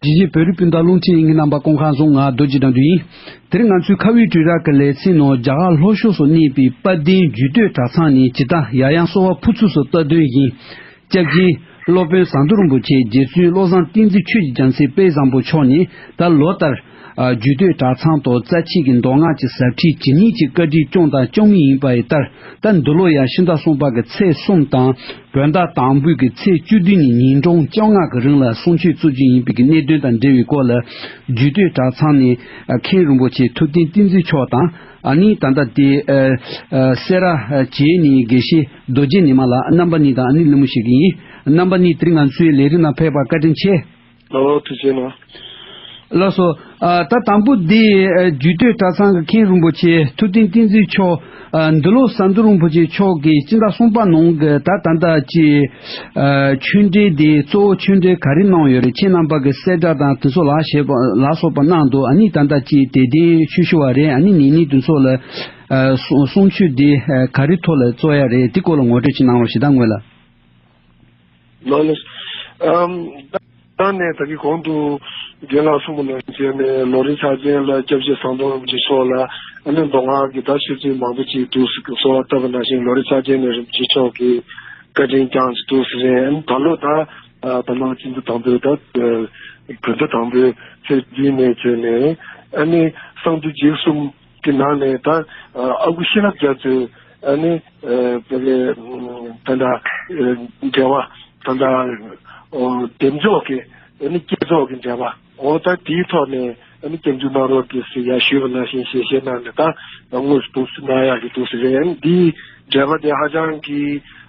དེ་བཞིན་བོད་རིགས་སྤུན་ཟླ་རླུང་འཕྲིན་གཉིས་རྣམ་པ་ཀོང་ཁ་རྫོང་ང་རྡོ་རྗེ་དང་དུ་ཡིན། དེར་ང་ཚོའི་ཁ་དབུས་དྲུང་ར་གི་ལས་ཚན་ནང་རྒྱ་གར་ལྷོ་ཕྱོགས་སུ་གནས་པའི་དཔལ་ལྡན་རྒྱུད་སྟོད་གྲྭ་ཚང་ནས་ཇི་ལྟ་ཡང་ཡང་གསོལ་བ་ཕུར་ཚུགས་སུ་བསྟོད་དོན་བཞིན། སྐྱབས་རྗེ། སློབ་དཔོན་ཟངས་མདོག་རིན་པོ་ཆེ་རྗེ་བཙུན་བློ་བཟང་ཏིང་འཛིན་ཆོས་ཀྱི་རྒྱལ་མཚན་དཔལ་བཟང་པོ་མཆོག་ནས་ད་ལོ་ལྟར། རྒྱུད་སྟོད་གྲྭ་ཚང་དུ་རྩ་ཆེ་གི་མདོ་སྔགས་ཀྱི་ཟབ་ཁྲིད་ཇི་སྙེད་ཅིག་བཀའ་དྲིན་སྐྱོང་དང་སྐྱོང་མུས་ཡིན་པ་ཡི་ལྟར་ད་འདི་ལོ་ཡང་ཕྱི་ཟླ་གསུམ་པ་གི་ཚེས་གསུམ་དང། བོད་ཟླ་དང་པོའི་གི་ཚེས་བཅུ་བདུན་ཉིན་ཉིན་གྲངས་བཅོ་ལྔ་གི་རིང་ལ་གསུང་ཆོས་གཙོ་རྒྱུན་ཡིན་པའི་གི་གནད་དོན་དང་འབྲེལ་བའི་སྐོར་ལ་རྒྱུད་སྟོད་གྲྭ་ཚང་ནས་མཁན་རིན་པོ་ཆེ་ཐུབ་བསྟན་བསྟན་འཛིན་མཆོག་དང་ནི་ད་ལྟ་དེ་སེ་ར་བྱེས་ནས་དགེ་བཤེས་རྡོ་རྗེ་ནི་མ་ལ་རྣམ་པ་གཉིས་དང་ནི་ལི་མོ་ཞིག་ཡིན་རྣམ་པ་གཉིས་དེ་ང་ཚོའི་ལས་རིགས་ནང་ཕེབས་པར་བཀའ་དྲིན་ཆེ། ལ་ལ་དུ་བྱེད་ན། ལ་སོ། ད་དང་པོ་འདི་རྒྱུད་སྟོད་གྲྭ་ཚང་གི་མཁན་རིན་པོ་ཆེ་ཐུབ་བསྟན་བསྟན་འཛིན་མཆོག། འདི་ལོ་ཟ་འདུལ་རིན་པོ་ཆེ་མཆོག་གིས་སྤྱི་ཟླ་གསུམ་པ་ནང་གི་ད་ད་ད་ཀྱི་ཆོས་འབྲེལ་དེ་གཙོ་བོ་ཆོས་འབྲེལ་ག་རེ་གནང་ཡོད་རེད་ཁྱེད་རྣམ་པ་གི་གསལ་བསྒྲགས་དང་དེ་ཚོ་ལ་ཞེས་པ་ལ་སོགས་པ་གནང་འདུག་ཨཱ་ནི་ད་ད་ཀྱི་དད་ལྡན་ཆོས་ཞུ་བ་རེད་ཨཱ་ནི་ངེད་གཉིས་དེ་ཚོ་ལ་གསུང་ཆོས་འདི་ག་རེ་ཐོག་ལ་རྩོ་ཡ་རེད་དེ་སྐོར་ལ་ངོ་སྤྲོད་ཅིག་གནང་རོགས་ཞེ་ད་ངོས་ལ། ནོར་ལེགས། ད་ནས་ད་གི་གོང་དུ་རྒན་ལགས་གསུང་པོ་ལ་མཇལ་ནས་ལོ་རིན་ཆགས་ཅན་ལ་སྐྱབས་རྗེ་ཟམ་གདོང་རིན་པོ་ཆེ་མཆོག་ལ་ཨ་ནེ་མདོ་སྔགས་ཀྱི་བརྡ་ཆོས་ཚུལ་མང་པོ་ཅིག་འདུག་ཟེར་གི་སོ་བ་བཏབ་པ་ནང་བཞིན་ལོ་རིན་ཆགས་ཅན་ནས་རིན་པོ་ཆེ་མཆོག་གི་བཀའ་དྲིན་བསྐྱངས་ཀྱི་འདུག་ཟེར་རན་ཨ་ད་ལོ་ད་ད་ལོ་སྤྱི་འཐུས་དང་པོས་ད་བོད་ཟླ་དང་པོའི་ཚེས་བདུན་ནས་བརྩད་ནས་ཨ་ནེ་གསང་འདུས་རྗེས་གསུམ། དེ་ནང་ནས་ད་ཨ་ཁུ་ཤེས་རབ་རྒྱ་མཚོས་ཨ་ནི་བོད་པའི་ད་ལྟ་འབྲེལ་བ་ད་ལྟ་འདེམས་འཇོག་གི་ཨ་ནི་བསྐྱེད་རྫོགས་ཀྱི་འབྲེལ་བ་འོ་ད་དེའི་ཐོག་ནས་ཨ་ནི་སྐྱབས་འཇུག་གནང་རོགས་དེ་སི་ཡར་ཞུས་པ་ནང་བཞིན་ཞེས་བཤད་གནང་ནས་ད་དངོས་སུ་འདུག་སི་གནང་ཡག་གི་འདུག་སི་རེད་ཨ་ནི་འདིའི་འབྲེལ་བ་དེ་ཧ་ཅང་གི།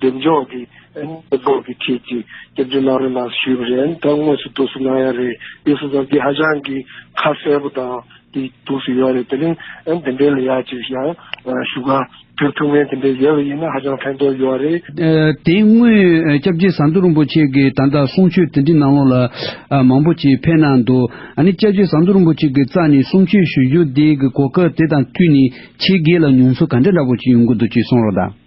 གདེང་འཇོག་གི་གནས་སྤོར་གྱི་ཁྲིད་ཀྱི་སྐྱབས་བཅོལ་གནང་རོགས་གནང་ཞུས་པ་རེད་ད་དངོས་སུ་གཏུགས་སུ་གནང་ཡ་རེད་ཡོད་སོང་ཙང་འདི་ཧ་ཅང་གི་ཁ་གསལ་པོ་དང་དེ་གཏུགས་སུ་ཡོད་རེད་དེ་རིང་འདི་འདྲའི་ལ་ཡ་གཅིག་ཡང་ཞུ་ག་ཕེབས་ཐུབ་ངེས་དེ་འདྲའི་ཡོད་པ་ཡིན་ན་ཧ་ཅང་ཕན་ཐོགས་ཡོད་རེད། དེ་སྔོན་སྐྱབས་རྗེ་ཟམ་གདོང་རིན་པོ་ཆེ་གི་ད་ལྟ་གསུང་ཆོས་དེ་འདྲི་གནང་ལོ་ལ་མང་པོ་ཅིག་ཕེབས་གནང་འདུག་ཨ་ནི་སྐྱབས་རྗེ་ཟམ་གདོང་རིན་པོ་ཆེ་གི་རྩ་ནས་གསུང་ཆོས་ཞུ་རྒྱུ་དེ་གི་གོ་སྐབས་དེ་དང་མཐུད་ནས་ཆེ་གེ་ལ་མྱོང་ཚོར་ག་འདྲ་འདྲ་པོ་ཅིག་ཡོང་གི་འདུག་ཅིག་གསུང་རོགས་གནང།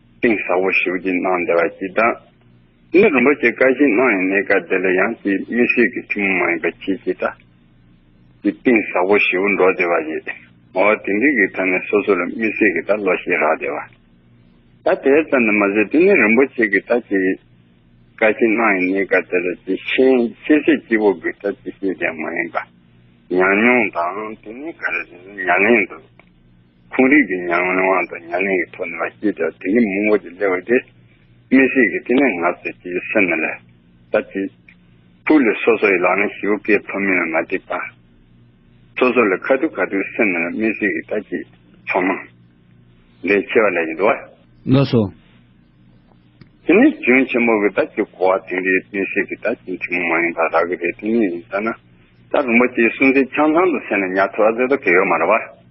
གཏིང་ཟབ་བོ་ཞིག་བརྒྱུད་གནང་བདེ་བ་སྐྱིད། ད་ནི་རིན་པོ་ཆེ་བཀའ་བཞིན་གནང་ཡང་གནས་སྐབས་དེ་ལ་ཡང་སྐྱིད་དམིགས་བསལ་གྱི་ཐུན་མོང་མ་ཡིན་པ་ཁྱེད་ཀྱིས་ད་ཀྱི་གཏིང་ཟབ་བོ་ཞིག་འགྲོ་བདེ་བ་ཡོད། ངོ་བོ་དེང་གི་གི་ཐ་ནས་སོ་སོ་ལ་དམིགས་བསལ་གྱི་ད་བློ་ཤེས་རག་བདེ་བ། ད་དེ་ཙམ་ནས་མ་ཟད་དེ་ནི་རིན་པོ་ཆེ་གི་ད་ཀྱི་བཀའ་བཞིན་གནང་ཡང་གནས་སྐབས་དེ་ལ་ཀྱི་ཤེས་ཤེས་བྱེད་སྐྱིད་བོ་གི་ད་ཀྱི་ཤེས་བྱ་མ་ཡིན་པ། ཉམས་མྱོང་དང་དེ་ནི་ག་རེ་རེད་ན་མྱ་ངན་འདུག། ཁོང་རིག་གི་མྱ་ངན་དབང་དང་མྱ་ངན་གྱི་ཐོག་ནས་མ་སྐྱེས་ཀྱང་དེ་ཉིད་མུན་པ་ཀྱི་སླེ་བ་དེ། མི་ཞིག་གིས་དེ་ནི་ང་ཟེར་གྱི་སེམས་ནས་ལས་ད་ཅི། ཐུགས་ལས་སོ་སོ་ཡི་ལག་ན་ཞི་བོ་ཀའི་ཐོ་མི་ལ་མ་བསྡིགས་པ། སོ་སོ་ལས་ཁ་ཐུག་ཁ་ཐུག་སེམས་ནས་ལས་མི་ཞིག་གིས་ད་ཅི། ཚང་མ། ལས་ཆེ་བ་ལས་ཀྱི་འདུ་བ། ནོས་སོ། དེ་ནི་རྒྱུན་ཆེན་པོ་གི་ད་ཅི་གོ་བ་དེང་རིག་མི་ཞིག་གིས་ད་ཅི་འཕྲིན་མོ་མ་ཡིན་པ་རག་གི་རེད་དེ་ཉིད་ཡིན་ས་ན། ད་རིན་པོ་ཆེའི་གསུང་ཚིག་ཆང་ཚང་དུ་ཟེར་ནས་ཉག་ཐོ་ཨ་ཟེར་དོ་གེ་ཡོད་མ་རེད་བ།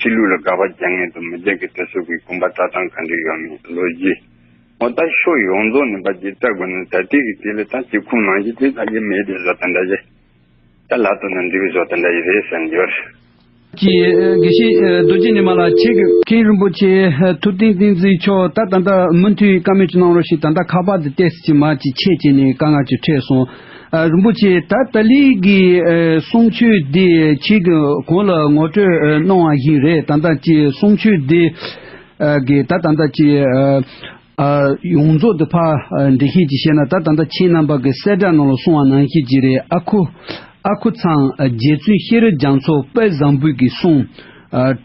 ཕྱི་ལུས་ལ་དགག་པ་རྒྱག་ངེས་དང་མི་རྒྱག་གི་དེ་སོགས་ཀྱི་དགོངས་པ་བཀྲལ་སྟངས་གང་འདྲ་ཡོད་མེད་ལོས་ཅི། ངོ་ལྟ་ཤོག་ཡོངས་རྫོགས་ནས་པ་ཇི་ལྟར་དགོས་ན་ད་ལྟའི་གི་དེ་ལས་ད་ཅིག་ཁུངས་ནང་བཞིན་དེ་ལྟ་ཡི་མེད་པའི་བཟོ་ལྟ་འདྲ་ཡི། ད་ལ་དོ་ན་འདི་བཟོ་ལྟ་འདྲ་ཡི་རེད་ཟེར་ནས་ཡོད། ཀྱི་དགེ་བཤེས་རྡོ་རྗེ་ནི་མ་ལ་ཆེ་གི། མཁན་རིན་པོ་ཆེ་ཐུབ་བསྟན་བསྟན་འཛིན་མཆོག་ད་ད་ལྟ་མུ་མཐུད་བཀའ་མོལ་གྱི་གནང་རོགས་ཞེས་ད་ལྟ་ཁ་པར་དུ་བལྟས་ཟིན་གྱི་མ་ཅིག་ཆད་བྱས་ནས་དཀའ་ངལ་གྱི་ཁྲེད་སོང། རིན་པོ་ཆེ་ད་ལྟ་ལིས་ཀྱི་གསུང་ཆོས་འདི་ཁྱེད་ཀྱི་གོང་ལ་ངོ་སྤྲོད་གནང་བ་ཞིག་རེད་ད་ལྟ་ཀྱི་གསུང་ཆོས་འདི་གིས་ད་ལྟ་ཀྱི་ཡོངས་རྫོགས་དུ་ཕར་འགྲེལ་ཤེས་ཀྱིས་བཤད་ན་ད་ལྟ་ཁྱེད་རྣམ་པ་གི་གསལ་བསྒྲགས་ནང་ལ་གསུང་བ་ནང་བཤད་ཀྱི་རེད་ཨ་ཁུ། ཨ་ཁུ་ཚང་རྗེ་བཙུན་ཤེས་རབ་རྒྱ་མཚོ་དཔལ་བཟང་པོས་ཀྱི་གསུང།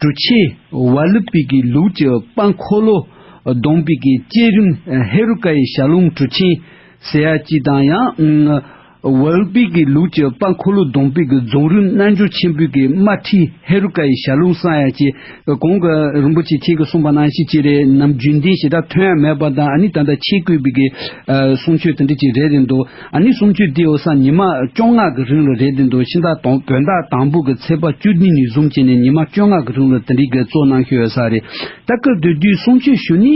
གྲུ་ཆེན་ཝཱ་ལི་པི་ཀའི་ལུགས་ཀྱི་དཔའ་འཁོར་ལོ་སྡོང་པོས་ཀྱི་བསྐྱེད་རིམ་ཧེ་རུ་ཀ་ཡི་ཞལ་ལུང་གྲུ་ཆེན། ཟེར་ཡག་སྐྱིད་དང་ཡང། ཝལ་པི་ཀི་ལུགས་ཀྱི་དཔའ་འཁོར་ལོ་སྡོང་པི་ཀི་རྫོང་རིམ་རྣལ་འབྱོར་ཆེན་པོད་ཀྱི་དམར་ཁྲིད་ཧེ་རུ་ཀ་ཡི་ཞལ་ལུང་བསང་ཡག་ཅེས་གོང་གི་རིན་པོ་ཆེ་ཁྱེད་ཀྱིས་གསུངས་པ་ནང་བཞིན་གཅིག་རེད་ནམ་རྒྱུན་ལྡན་ཞེ་དྲག་ཐོན་ཡ་མེད་པ་དང་ཨཱ་ནི་ད་ལྟ་ཆེད་བསྐོས་པི་ཀི་གསུང་ཆོས་དེ་འདྲ་ཅིག་རེད་དེ་འདུག་ཨཱ་ནི་གསུང་ཆོས་དེའི་འོ་ས་ཉི་མ་བཅོ་ལྔ་གི་རིང་ལ་རེད་དེ་འདུག་ཕྱི་ཟླ་དང་བོད་ཟླ་དང་པོ་གི་ཚེས་པ་བཅུ་ནི་ནི་བཟུང་བྱས་ནས་ཉི་མ་བཅོ་ལྔ་གི་རིང་ལ་དེ་འདྲའི་གི་གཙོ་གནང་ཤོས་ཡོད་ས་རེད་ད་སྐབས་དེ་དུས་གསུང་ཆོས་ཞུ་ནི་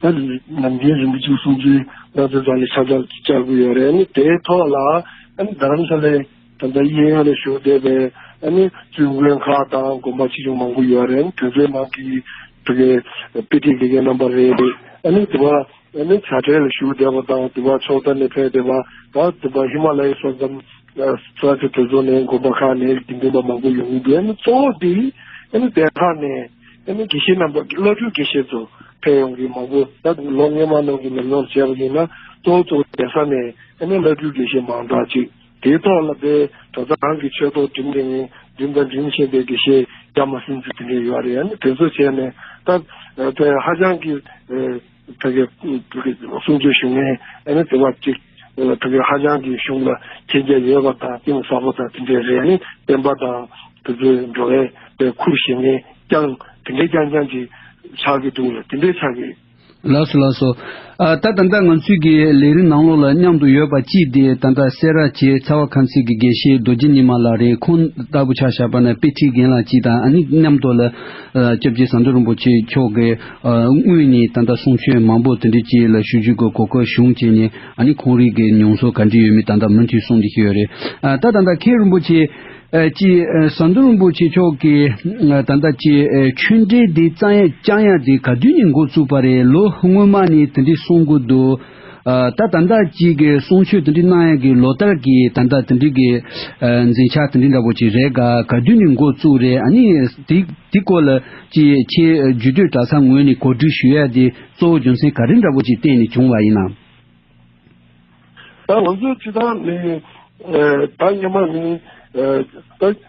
ད་རེས་ནམ་རྒྱུན་རིན་པོ་ཆེ་གསུང་ཚུལ་སྣང་ཚུལ་དག་ལས་ཁྱབ་བསྒྲགས་ཅིག་བྱ་དགོས་ཡོད་རེད་ནི་དེའི་ཐོག་ལ་རྡ་རམ་ས་ལའི་ད་ལྟ་གཡས་གཡོན་ལ་བཞུགས་བསྡད་པའི་བཙུན་དགོན་ཁག་དང་དགོན་པ་ཆེ་ཆུང་མང་པོ་ཡོད་རེད་ནི་དེ་ཚོའི་ནང་གི་དེ་གའི་དཔེ་ཁྲིད་དགེ་རྒན་རྣམ་པ་རེ་རེ་ནི་དེ་བ་བྱ་བྲལ་ལ་བཞུགས་བསྡད་པ་དང་དེ་བ་ཕྱོགས་མཐའ་ནས་ཕེབས་བསྡད་པ་དང་དེ་བ་ཧི་མ་ལ་ཡའི་ས་མཚམས་ས་ཆ་དེ་ཚོ་ནས་དགོན་པ་ཁག་ནས་དགེ་འདུན་པ་མང་པོ་ཡོང་གི་འདུག་གཙོ་བོ་དེ་གནྡྷེ་ཁག་ནས། དེ་ནས་དགེ་བཤེས་རྣམ་པ་བླ་སྤྲུལ་དགེ་བཤེས་ཚོ་ཕལ་ཡོང་གི་མང་པོ་ད་དུང་ལོ་ལྔའི་མ་ནང་གི་ཉམས་མྱོང་བྱས་པ་ཡིན་ན་གཙོ་བོ་གཙོ་བོ་གདན་ས་ནས་ཨ་ནེ་བླ་སྤྲུལ་དགེ་བཤེས་མང་དག་ཅིག་དེའི་ཐོག་ལ་དཔལ་གྲོ་ཚང་གི་ཆོས་ཐོག་འགྲིམས་དེ་འགྲིམས་དང་འགྲིམས་བཞིན་པའི་དགེ་བཤེས་རྒྱ་མ་སྲིན་ཚུལ་དེ་འདྲས་ཡོད་རེད་ཨ་ནི་དེ་ཚོ་བྱས་ནས་ད་ཧ་ཅང་གི་ཕལ་སྐད་ཕུལ་གྱི་འདུག་གསུང་ཆོས་ཞུ་མཁན་ཨ་ནི་དེ་བ་གཅིག་ཕལ་སྐད་ཧ་ཅང་གི་གཞུང་ལ་མཁྱེན་རྒྱ་ཡོད་པ་དང་གཏིང་ཟབ་པོ་དང་དེ་འདྲའི་རེད་ནི་བསྟན་པ་དང་དེ་ཚོའི་འགྲོ་བའི་པའི་ཁུར་བཞེས་མཁན་རྐྱང་དེ་འདྲའི་རྐྱང་རྐྱང་གི་ཆགས་ཀྱི་འདུག་ལ་དེ་འདྲའི་ཆགས་ཀྱི། ལགས་སོ་ལགས་སོ། ད་ད་ལྟ་ང་ཚོས་ཀྱི་ལས་རིགས་ནང་ལོགས་ལ་མཉམ་དུ་ཡོད་པ་གཅིག་དེ་ད་ལྟ་སེ་ར་བྱེ་ཚ་བ་ཁམས་སེ་གི་དགེ་བཤེས་རྡོ་རྗེ་ཉི་མ་ལགས་རེད་ཁོང་ལྟ་བུ་ཆགས་བཞག་པ་ན་དཔེ་ཁྲིད་མཁན་ལགས་གཅིག་དང་ཨ་ནི་མཉམ་དུ་ལ་སྐྱབས་རྗེ་ཟམ་གདོང་རིན་པོ་ཆེ་མཆོག་གིས་དངོས་གནས་ད་ལྟ་གསུང་ཆོས་མང་པོ་དེ་འདྲའི་བཅས་ལ་ཞུ་རྒྱུའི་གོ་སྐབས་བྱུང་རྐྱེན་ནི་ཨ་ནི་ཁོང་རིགས་ཀྱི་མྱོང་ཚོར་ག་འདྲི་ཡོད་མེད་ད་ལྟ་མུ་མཐུད་གསུང་འདི་ཤེས་ཡོད་རེད། ད་ད་ལྟ་མཁན་རིན་པོ་ཆེ་སྐྱིས་ཟམ་གདོང་རིན་པོ་ཆེ་མཆོག་གིས་ད་ལྟ་ཀྱི་ཆོས་འབྲེལ་འདི་རྐྱང་ཡ་དེ་ག་དུས་ནས་འགོ་བཙུགས་པ་རེད་ལོ་སྔོན་མ་ནས་དེ་འདྲའི་གསུང་གི་འདུག། ད་ད་ལྟ་གཅིག་གི་གསུང་ཆོས་དེ་འདྲི་གནང་ཡག་གི་ལོ་ལྟར་གི་ད་ལྟ་དེ་འདྲི་གི་འཛིན་ཆ་དེ་འདྲི་འདྲ་པོ་ཅིག་རེད་ག་ག་དུས་ནས་འགོ་བཙུགས་རེད་ཨ་ནི་དེ་དེ་སྐོར་ལ་ཅི་ཁྱེད་རྒྱུད་སྟོད་གྲྭ་ཚང་ངོས་ནས་གོ་སྒྲིག་ཞུ་ཡག་དེ་གཙོ་བོ་རྒྱུ་མཚན་ག་རེ་འདྲ་པོ་ཅིག་བརྟེན་ནས་བྱུང་བ་ཡིན་ནམ། ད་ང་ཚོ་ཅི་ཐང་ནས་ད་སྙེ་མ་ནས་ད།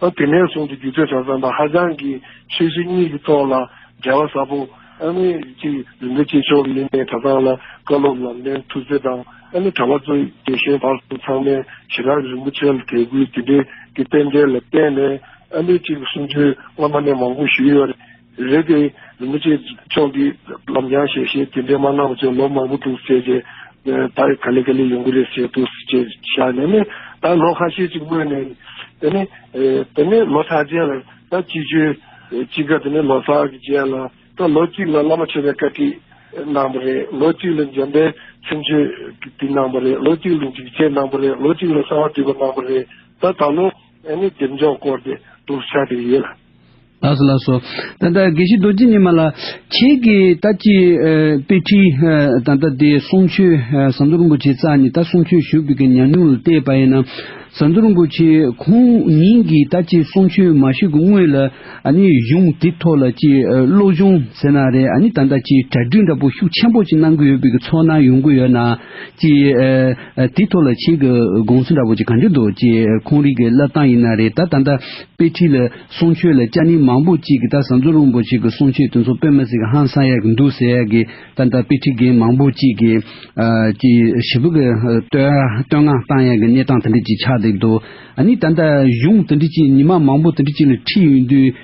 ཨ་དེ་ནས་བཟུང་སྟེ་སྒྱུ་རྩལ་དང་རྩམ་པ་ཧ་ཅང་གི་ཆོས་གཞི་གཉིས་ཀྱི་ཐོག་ལ་འབྲེལ་བ་ཟབ་པོ། ཨ་མི་རིགས་ཀྱི་རིག་འཛིན་སྐྱེས་མཆོག་མི་མེད་གྲྭ་ཚང་ལ་བཀའ་སློབ་ལམ་སྟོན་ཐུགས་བརྩེ་དང་ཨ་མི་གྲྭ་བ་གཙོས་དགེ་བཤེས་བར་གསུམ་ཚང་མས་ཞི་རགས་རིན་པོ་ཆེ་ལ་དད་གུས་དེ་འབྲེལ་གྱི་རྟེན་འབྲེལ་ལ་བརྟེན་ནས་ཨ་མི་གཅིག་གི་གསུང་ཆོས་སྔ་མ་ནས་མང་པོ་ཞུས་ཡོད། རེད་དེ། རིན་པོ་ཆེ་མཆོག་གིས་ལམ་རྒྱང་ཞེས་བཤད་དེ་འདྲའི་མ་གནང་བ་ཚོས་ལོ་མང་པོ་འདུག་ཟེར་རྗེས། ད་རེས་ག་ལེ་ག་ལེ་ཡོང་གི་རེད་ཟེར་འདུག་ཅེས་བཞག་ནས་ནི་ད་ལོ་ཁ་ཤས་ཅིག་སྨོས་ནས། དེ་ནས། དེ་ནས་ལོ་གྲངས་རྗེས་ལ་ད་སྤྱི་ཆོས་གཅིག་ག་དེ་ནས་ལོ་སར་གྱི་རྗེས་ལ་ད་ལོ་གཅིག་ལ་བླ་མ་མཆོད་པའི་བཀའ་ཁྲིད་གནང་བ་རེད་ལོ་གཅིག་ལ་འཇམ་དཔལ་ཚིག་མཆོད་དེ་གནང་བ་རེད་ལོ་གཅིག་ལ་འཇིགས་བྱེད་གནང་བ་རེད་ལོ་གཅིག་ལ་གསང་བ་འདུས་པ་གནང་བ་རེད་ད་ད་ལོ། ཨེ་ནི་སྡེབ་འཇོག་སྐོར་དེ་སྒྲུབ་བྱ་དེ་ཡོད་ལ། ལགས་སོ་ལགས་སོ། ད་ལྟ་དགེ་བཤེས་རྡོ་རྗེ་ཉི་མ་ལ། ཁྱེད་ཀྱི་ད་ཅི་དཔེ་ཁྲིད་ད་ལྟ་དེ་གསུང་ཆོས་ཟམ་གདོང་རིན་པོ་ཆེ་ཙག་ནི་ད་གསུང་ཆོས་ཞུ་དགོས་ཀྱི་ཉམས་མྱོང་ལ་བལྟས་པ་ཡིན་ན། ཟམ་གདོང་རིན་པོ་ཆེ་ཁོང་ཉིད་ཀྱིས་ད་ཅི་གསུང་ཆོས་མ་ཞུས་ཀྱི་སྔོན་ལ་ཨ་ནི་གཞུང་དེ་ཐོག་ལ་ཅི་བློ་སྦྱོང་ཟེར་ན་རེད་ཨ་ནི་ད་ལྟ་ཅི་གྲ་སྒྲིག་འདྲ་པོ་ཤུགས་ཆེན་པོ་ཅི་གནང་གི་ཡོད་པའི་ཚོར་སྣང་ཡོང་གི་ཡོད་ན། ཅེས། དེའི་ཐོག་ལ་ཁྱེད་ཀྱི་དགོངས་ཚུལ་འདྲ་བོ་ཅིག་གང་རྒྱུ་འདུག་ཅེས་ཁོང་རིགས་ཀྱི་བསླབ་སྟངས་ཡིན་ན་རེད་ད་ད་ལྟ་དཔེ་ཁྲིད་ལ་གསུང་ཆོས་ལ་སྤྱ་ནི་མང་པོ་ཅིག་གིས་ད་ཟམ་ཟོ་རིན་པོ་ཆེ་གི་གསུང་ཆོས་དེ་ཚོ་དཔེ་མ་ཟིག་ཧང་སང་ཡག་གི་འདུག་ཟེར་ཡག་གི་ད་ལྟ་དཔེ་ཁྲིད་མཁན་མང་པོ་ཅིག་གིས་ཞི་བུ་གི་བསྟོད་བསྔགས་བཏང་ཡག་གི་གནས་སྟངས་དེ་འདྲས་ཅིག་ཆགས་བསྡད་འདུག་ཨ་ནི་ད་ལྟ་གཞུང་དེ་འདྲས་ཅིག་ཉི་མ་མང་པོ་དེ་འདྲས་ཅིག་ལ་ཁྲིད་ཡོད་དུས།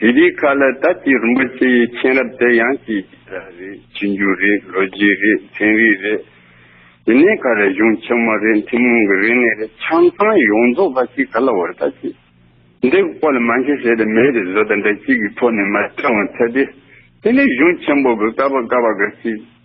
དེ་རིགས་ཁག་ལ་ད་ལྟའི་རིན་པོ་ཆེ་ཡི་མཁྱེན་རབ་དེ་ཡང་ཅི་ཞིག་རེད་ཅི་འགྱུར་རེད་ལོ་རྒྱུས་རེད་ཚན་རིག་རེད། དེ་ནས་ཁ་རས་གཞུང་ཆེན་མོ་རེད་ཐུན་མོང་གི་རིག་གནས་རེད་ཆང་ཚང་ཡོངས་རྫོགས་པ་ཞིག་ག་ལ་བར་ད་ཅི། འདི་ཀོ་ལ་མ་འཁྱེར་བྱས་ཏེ་མེད་པའི་བཟོ་ལྟ་འདྲ་ཅིག་གི་ཐོག་ནས་མ་བསྐྲངས་བར་ཚར་ཏེ། དེ་ནས་གཞུང་ཆེན་པོ་གི་ཀ་བ་ཀ་བ་འགའ་ཞིག།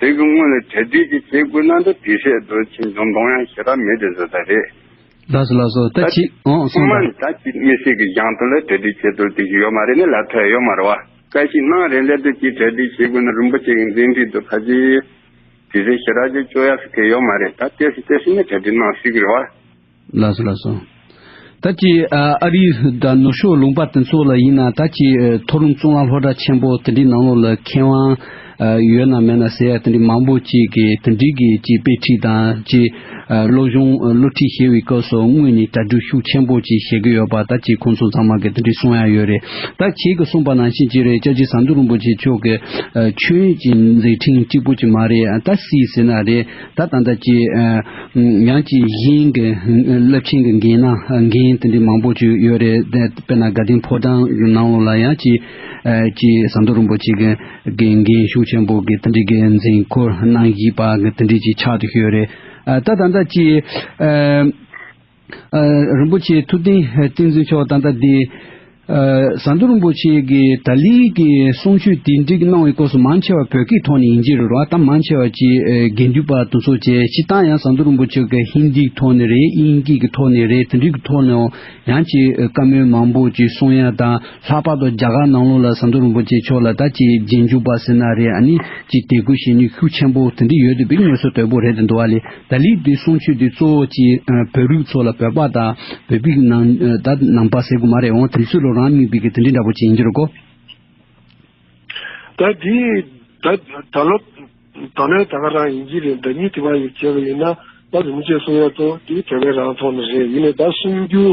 དེང་གི་སྔོན་ལ་གྲ་སྒྲིག་ཅིག་བྱེད་དགོས་ན་འདི་བྲིས་ཤད་དུ་ཕྱིན་བྱུང་གཏོང་ཡང་ཞེ་དྲག་མེད་དེ་བཟོ་ས་རེད། ལགས་སོ་ལགས་སོ་ད་ད་ཅིག་ཨང་ཁོང་སོང་མ་ད་ད་ཅིག་མི་སེར་གི་རྒྱང་ཐོ་ལ་གྲ་སྒྲིག་བྱེད་དུ་དེ་ཞིག་ཡོད་མ་རེད་ནི་ལ་ཐོད་ཡོད་མ་རེད་བ། བཀའ་ཞིག་གནང་རེད་ལས་དོན་ཅིག་གྲ་སྒྲིག་བྱེད་དགོས་ན་རིན་པོ་ཆེ་གི་མཛད་འཕྲིན་དུ་ཕ་ཅིག་བྲིས་ས་ཞེ་དྲག་ཅིག་བཅོ་ཡག་སི་ཁེ་ཡོད་མ་རེད་ད་བལྟས་སི་བལྟས་སི་ནི་གྲ་སྒྲིག་གནང་སིག་གི་རེད་བ། ལ་སོང་ལ་སོང། ད་ཀྱི་ཨ་རིའི་དགྲ་ནུ་ཞོ་ལུང་པ་དེ་ཚོ་ལ་ཡིན་ན་ད་ཀྱི་མཐོ་རིམ་གཙུག་ལག་ལྷོ་བྲག་ཆེན་པོ་དེ་འདྲའི་ནང་ལོགས་ལ་མཁས་དབང་ཡོད་ན་མེད་ན་ཟེར་ཡ་དེ་འདྲའི་མང་པོ་ཅིག་གི་དེ་འདྲའི་གི་ཅིག་དཔེ་ཁྲིད་དང་ཅིག་བློ་གཞུང་བློ་ཁྲིད་བཤད་བའི་སྐབས་སུ་དངོས་ནས་དྲ་འབྲུ་ཤུགས་ཆེན་པོ་ཅིག་བཤད་གི་ཡོད་པ་ད་ཀྱི་ཁོང་ཚོ་ཚང་མ་གི་དེ་འདྲའི་གསུང་ཡ་ཡོད་རེད་ད་ཁྱེད་ཀྱི་གསུང་པ་ནང་བཞིན་ཅི་རེད་ཅག་ཅིག་ཟམ་གདོང་རིན་པོ་ཆེ་མཆོག་གི་ཆོས་ཀྱི་མཛད་ཕྲིན་གཅིག་པོ་ཅིག་མ་རེད་ད་སྲིད་ཟེར་ན་རེད། ད་དང་ད་ཅི། ཡང་ཅི་བཞིན་གྱི་རླབས་ཆེན་གྱི་འགན་ན་འགན་དེ་འདྲའི་མང་པོ་བཅུག་ཡོད་རེད། དཔེར་ན་དགའ་ལྡན་ཕོ་བྲང་གི་ནང་ལོགས་ལ་ཡང་ཅི། ཅི་ཟམ་གདོང་རིན་པོ་ཆེ་གི་འགན་ཤུགས་ཆེན་པོ་གི་དེ་འདྲའི་འགན་འཛིན་ཁུར་གནང་བཞིན་པ་དེ་འདྲའི་ཅི་ཆགས་ཏུ་ཤོས་རེད། ད་དང་ད་ཅི། རིན་པོ་ཆེའི་ཐུགས་རྟེན་བསྟན་འཛིན་ཆོག་ད་ལྟ་འདི། ཟ་འདོད་རིན་པོ་ཆེ་གི་ད་ལིའི་གི་གསུང་ཆོས་དེ་འགྲིག་གནང་བའི་སྐོར་སུ་མང་ཆེ་བ་བོད་སྐད་ཐོག་ནས་ཡིན་གྱི་རེད་རོ་ད་མང་ཆེ་བ་ཅི་དགེ་འདུན་པ་དུ་ཚོ་བྱས་ཕྱི་ད་ཡང་ཟ་འདོད་རིན་པོ་ཆེ་གི་ཧིན་དིའི་ཐོག་ནས་རེད་དབྱིན་སྐད་གི་ཐོག་ནས་རེད་དེ་འདྲིའི་གི་ཐོག་ནས་ཡང་ཅི་བཀའ་མོལ་མང་པོ་ཅི་གསུང་ཡ་ད་ལྷག་པར་དུ་རྒྱ་གར་ནང་ལོག་ལ་ཟ་འདོད་རིན་པོ་ཆེ་མཆོག་ལ་ད་ཅི་རྗེས་འཇུག་པ་ཟེར་ན་རེད་ཨ་ནི་ཅི་དད་གུས་ཞེ་ནུས་ཤུགས་ཆེན་པོ་དེ་འདྲི་ཡོད་དུ་བི་དངོས་སུ་དོད་པོ་རེད་དུ་འདུ་བ་ལས། ད་ལི་བདུད་སྲོང་ཆོས་འདི་གཙོ་བོ་ཅི་བོད་རུས་ཚོ་ལ་བོད་པ་དང་བོད་པིག་ནང་ད་ནང་པ་ཟེར་དགོས་མ་རེད་འོང་དེ་ཚོས་ལོ་རང་མིང་བིག་གི་དེ་འདྲི་འདྲ་པོ་ཅི་ཡིན་འགྱུར་རོ་གོ། ད་དེ་ད་ད་ལོ་ད་ནས་ད་ག་རང་ཡིན་གྱི་རེད་ད་ཉིད་དེ་བ་ཡིག་བྱས་པ་ཡིན་ན་ད་རིན་པོ་ཆེ་གསུང་ཡག་ཏོ་དེ་བོད་པའི་རང་ཐོག་ནས་རེད་ཡིན་ནས་ད་གསུང་རྒྱུ།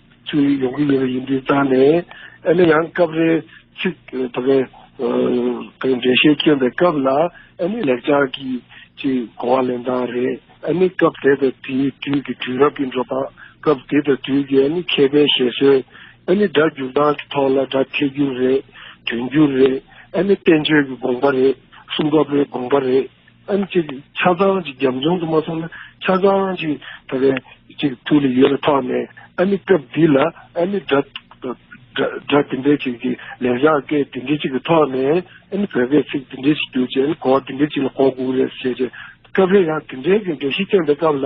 ཅིག་ཡོང་གི་ཡོད་པ་ཡིན་དུས་བརྟགས་ནས་ཨེ་ནི་ཡང་སྐབས་རེ་ཚིག་དོ་གལ་གང་འགྲེལ་བཤད་སྐྱོན་པའི་སྐབས་ལ་ཨེ་ནི་ལེགས་སྦྱར་གྱི་ཅིག་གོ་བ་ལེན་སྟངས་རེད་ཨེ་ནི་སྐབས་དེ་དང་དེའི་དུས་ཀྱི་དུས་རབས་ཀྱི་འགྲོ་སྟངས་སྐབས་དེ་དང་དུས་ཀྱི་ཨེ་ནི་མཁས་པའི་བཞེད་སྲོལ་ཨེ་ནི་སྒྲ་འཇུག་སྟངས་ཀྱི་ཐོག་ལ་སྒྲ་ཐད་སྒྱུར་རེད་དོན་སྒྱུར་རེད་ཨེ་ནི་བསྟན་བཅོས་ཀྱི་དགོངས་པ་རེད་གསུང་སྐབས་རེ་དགོངས་པ་རེད། ཨ་ནི་ཅིག་ཆ་ཚང་ཅིག་རྒྱབ་ལྗོངས་དུ་མ་སོང་ན་ཆ་ཚང་ཅིག་ད་གའི་ཅིག་ཐུགས་ལ་ཡོད་པའི་ཐོག་ནས་ཨ་ནི་སྐབས་འདི་ལ་ཨ་ནི་སྒྲ་སྒྲ་དེ་འདྲའི་ཅིག་གི་ལས་བྱ་སྐད་དེ་འདྲའི་ཅིག་གི་ཐོག་ནས་ཨ་ནི་བོད་སྐད་ཚིག་དེ་འདྲའི་ཅིག་བསྒྱུར་ཅིག་ཨ་ནི་གོ་བ་དེ་འདྲའི་ཅིག་ལ་གོ་དགོས་རེད་ཟེར་ཅིག་སྐབས་རེ་ཡང་དེ་འདྲའི་གི་འགྲེལ་བཤད་བསྟན་པའི་སྐབས་ལ།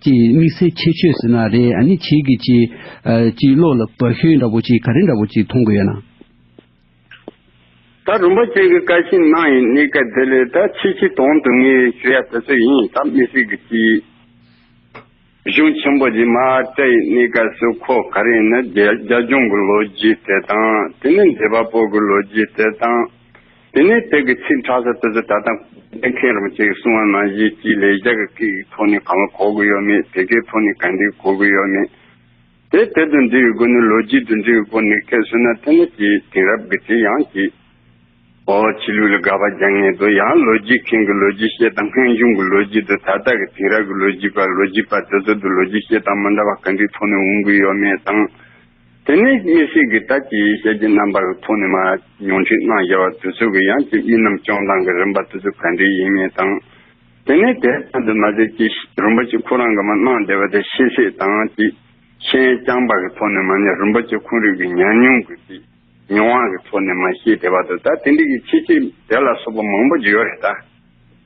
ཅེས་དམིགས་བསལ་ཁྱད་ཆོས་ཟེར་ན་རེ་ཨ་ནི་བྱེད་ཀྱི་ཅི། ཅིའི་བློ་ལ་བག་ཞོན་འདྲ་བོ་ཅིག་ག་རེ་འདྲ་བོ་ཅིག་མཐོང་དགོས་ཡོད་ན། ད་རུམ་པ་ཅན་གྱི་བཀའ་བཞིན་གནང་ཡིན་གནས་སྐལ་དེ་ལས་ད་ཕྱིས་ཕྱིས་དོང་དུ་ངས་ཞུ་ཡ་དེ་ཚོ་ཡིན་ད་དམིགས་བསལ་གྱི་ཅི། གཞུང་ཆེན་པོ་འདི་མ་བཀྲ་ཡི་གནས་སྐལ་སུ་ཁོ་ག་རེ་ཡིན་ན་རྒྱ་གཞུང་གི་ལོ་རྒྱུས་དེ་དང་དེ་ནས་འདས་པ་པོ་གི་ལོ་རྒྱུས་དེ་དང། དེ་ནས་དེ་གི་ཚེ་འཕྲལ་སར་དེ་ཚོ་ད་ལྟ་གནས་མཁན་རང་བྱེད་ཀྱི་སྲུང་བ་ནང་བཞིན་གྱིས་ལས་རྒྱ་གི་ཁི་ཡི་ཐོག་ནས་གང་ལ་གོ་དགོས་ཡོད་མེད་དེ་གའི་ཐོག་ནས་ག་འདི་གོ་དགོས་ཡོད་མེད་དེ་དེ་དུ་འབྲི་བའི་སྒོ་ནས་ལོ་རྒྱུས་དུ་འབྲི་བའི་སྒོ་ནས་ཁས་བསུ་ན་དེ་ནས་ཀྱི་དེང་རབས་ཀྱི་དེ་ཡང་ཀྱི་ཨོ་ཕྱི་ལུགས་ལ་དགག་པ་རྒྱག་ངེས་དོ་ཡང་ལོ་རྒྱུས་མཁན་གྱི་ལོ་རྒྱུས་བཤད་སྟངས་སྔོན་བྱུང་གི་ལོ་རྒྱུས་དུ་ད་ལྟ་གི་དེང་རབས་ཀྱི་ལོ་རྒྱུས་པ་ལོ་རྒྱུས་པ་དེ་ཚོ་དུ་ལོ་རྒྱུས་བཤད་སྟངས་མི་འདྲ་བ་ག་འདི་ཐོག་ནས་འོང་དགོས་ཡོད་མེད་དང། དེ་ནས་ཡེ་ཤེས་ཀྱི་དར་གྱི་ཞལ་གྱི་རྣམ་པར་ཐོགས་ནས་མ། ཉུང་འཕྲི་སྣང་རྒྱ་བ་དུ་ཚུགས་ཀྱི་ཡང་ཅིག་དབྱིངས་རྣམས་སྐྱོང་སྟངས་ཀྱི་རིམ་པ་དུ་ཚུགས་ག་འདྲའི་ཡིན་ངེས་དང། དེ་ནས་དེ་ཙམ་དུ་མ་ཟད་ཀྱི། རིན་པོ་ཆེ་ཁོ་རང་གི་མ་སྣང་བདེ་བ་དེ་ཤེས་ཤེས་དང་ཅིག། ཤེས་རྐྱང་པ་གི་ཐོག་ནས་མ་ནི་རིན་པོ་ཆེ་ཁོང་རིག་གི་ཉམས་མྱོང་གི་ཅིག། མྱོང་བ་གི་ཐོག་ནས་མ་ཤེས་བདེ་བ་དུ་ད་དེ་འདྲི་གི་ཆེ་ཆེ་དེ་ལ་སོགས་པ་མང་པོ་ཅིག་ཡོད་རེད་ད།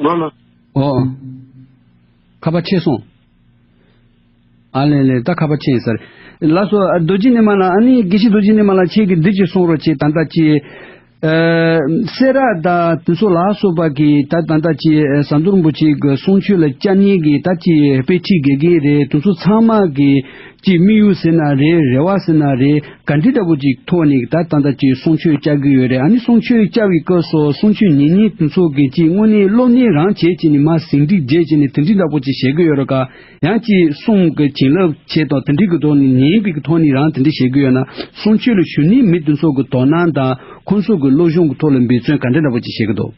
མ། ཨོ། ཁ་བ་ཆེ་སོང། ཨ་ལེ་ལེ་ད་ཁ་བ་ཆེ་ཟེར། ལགས་སོ། རྡོ་རྗེ་ནི་མ་ལ་ཨ་ནི་དགེ་བཤེས་རྡོ་རྗེ་ནི་མ་ལ་ཁྱེད་ཀྱིས་འདི་གཅིག་གསུངས་རོགས་ཅེས་ད་ལྟ་ཅི། སེ་ར་ད་དེ་ཚོ་ལགས་སོ་པ་གི་ད་ད་ལྟ་ཅི་ཟ་འདོར་འབུ་ཅིག་གསུངས་ཁྱོད་ལ་ཅག་གཉིས་ཀྱིས་ད་ཅི་དཔེ་ཁྲིད་དགེ་རྒན་རེད་དེ་ཚོ་ཚང་མ་གི། ཅིག་དམིགས་ཡུལ་ཟེར་ན་རེད་རེ་བ་ཟེར་ན་རེད་ག་འདི་ལྟ་བུ་ཅིག་ཐོག་ནས་ད་ལྟ་ད་ཅིག་གསུང་ཆོས་བཅའ་གི་ཡོད་རེད་ཨ་ནི་གསུང་ཆོས་བཅའ་བའི་སྐབས་སུ་གསུང་ཆོས་ཉིན་གཉིས་དུ་ཚོགས་གི་ཅིག་དངོས་གནས་སློབ་གཉེར་རང་བྱེད་ཅིག་ནི་མ་ཟིན་སྒྲིག་རྗེས་ཅིག་ནི་དེ་འདྲི་འདྲ་བོ་ཅིག་བྱེད་གི་ཡོད་རེད་ཀ་ཡང་ཅིག་གསུང་གི་བྱིན་རླབས་ཆེད་དུ་དེ་འདྲི་གི་ཐོག་ནས་ཉིན་གཅིག་གི་ཐོག་ནས་རང་དེ་འདྲི་བྱེད་གི་ཡོད་ན་གསུང་ཆོས་ལ་ཞུ་ནས་མི་དེ་ཚོ་གི་དོ་སྣང་དང་ཁོ་ཚོ་གི་བློ་གཞུང་གི་ཐོག་ལ་འབད་བརྩོན་ག་འདྲ་འདྲ་བོ་ཅིག་བྱེད་གི་འདུག།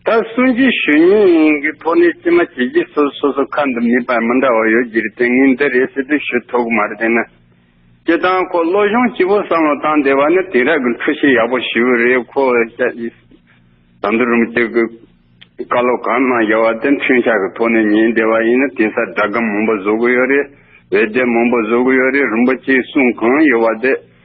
ད་སུན་ཅི་ཞུས་ཉིན་གྱི་ཐོག་ནས་ཅི་མ་བྱེད་ཀྱི་སོ་སོ་སོ་ཁ་འདི་མི་པར་མི་འདྲ་བ་ཡོད་ཀྱི་རེད་དེ་ངས་འདི་རེད་ཟེར་དུས་ཞུ་ཐུག་མ་རེད་ན། སྤྱི་དང་ཁོ་བློ་གཞུང་སྤྱི་བོ་བསམ་བློ་བཏང་བསྡད་པ་ནི་དེང་རབས་ཀྱི་འཁྲུལ་ཤེས་ཡག་པོ་ཞིག་རེད་ཁོ་བཤད་ཀྱི་ཟམ་དུ་རུམ་གཅིག་གི་བཀའ་སློབ་གང་གནང་ཡོད་བ་དེ་འཁྲུན་ཆགས་ཀྱི་ཐོག་ནས་ཉན་བསྡད་པ་ཡིན་ན་དེང་སར་དགྲ་དགའ་མང་པོ་བཟོ་གི་ཡོད་རེད་འོད་སྡེར་མང་པོ་བཟོ་གི་ཡོད་རེད་རིན་པོ་ཆེའི་གསུང་གང་ཡོད་བ་དེ།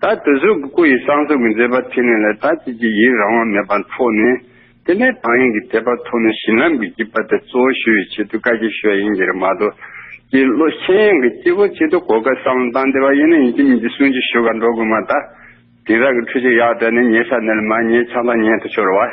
ད་དུ་གཟུགས་ཀྱི་སྐུ་ཡི་གསང་གསུམ་གྱི་མཛད་པ་ཐིག་ལེ་ལ་ད་ཅི་བགྱི་ཡི་རང་དབང་མེད་པ་མཐོང་ནས། དེ་ནས་དང་ཡིན་གྱི་དད་པ་མཐོང་ནས་བྱིན་རླབས་ཀྱི་བགྱི་བ་དེ་གཙོ་བོ་ཞུ་བའི་ཆེད་དུ་བཀའ་རྒྱ་ཞུ་བ་ཡིན་གྱི་རེ་མ་ཏོ། ཀྱི་བློ་མཁྱེན་ཡང་གི་སྐྱེ་བོ་ཆེད་དུ་གོ་སྐལ་གསང་བའི་མདངས་བདེ་བ་ཡིན་ན་ཡིན་གྱི་མིན་གྱི་གསུང་གཅིག་ཞུ་བར་འགྲོ་དགོས་མ་ད། དེང་རང་གི་འཁྲུལ་ཆ་ཡག་བསྒྲལ་ནས་ཉེས་ས་ནས་ལ་མ་ཉེས་ཆགས་ལ་ཉེས་དུ་ཤོར་བ།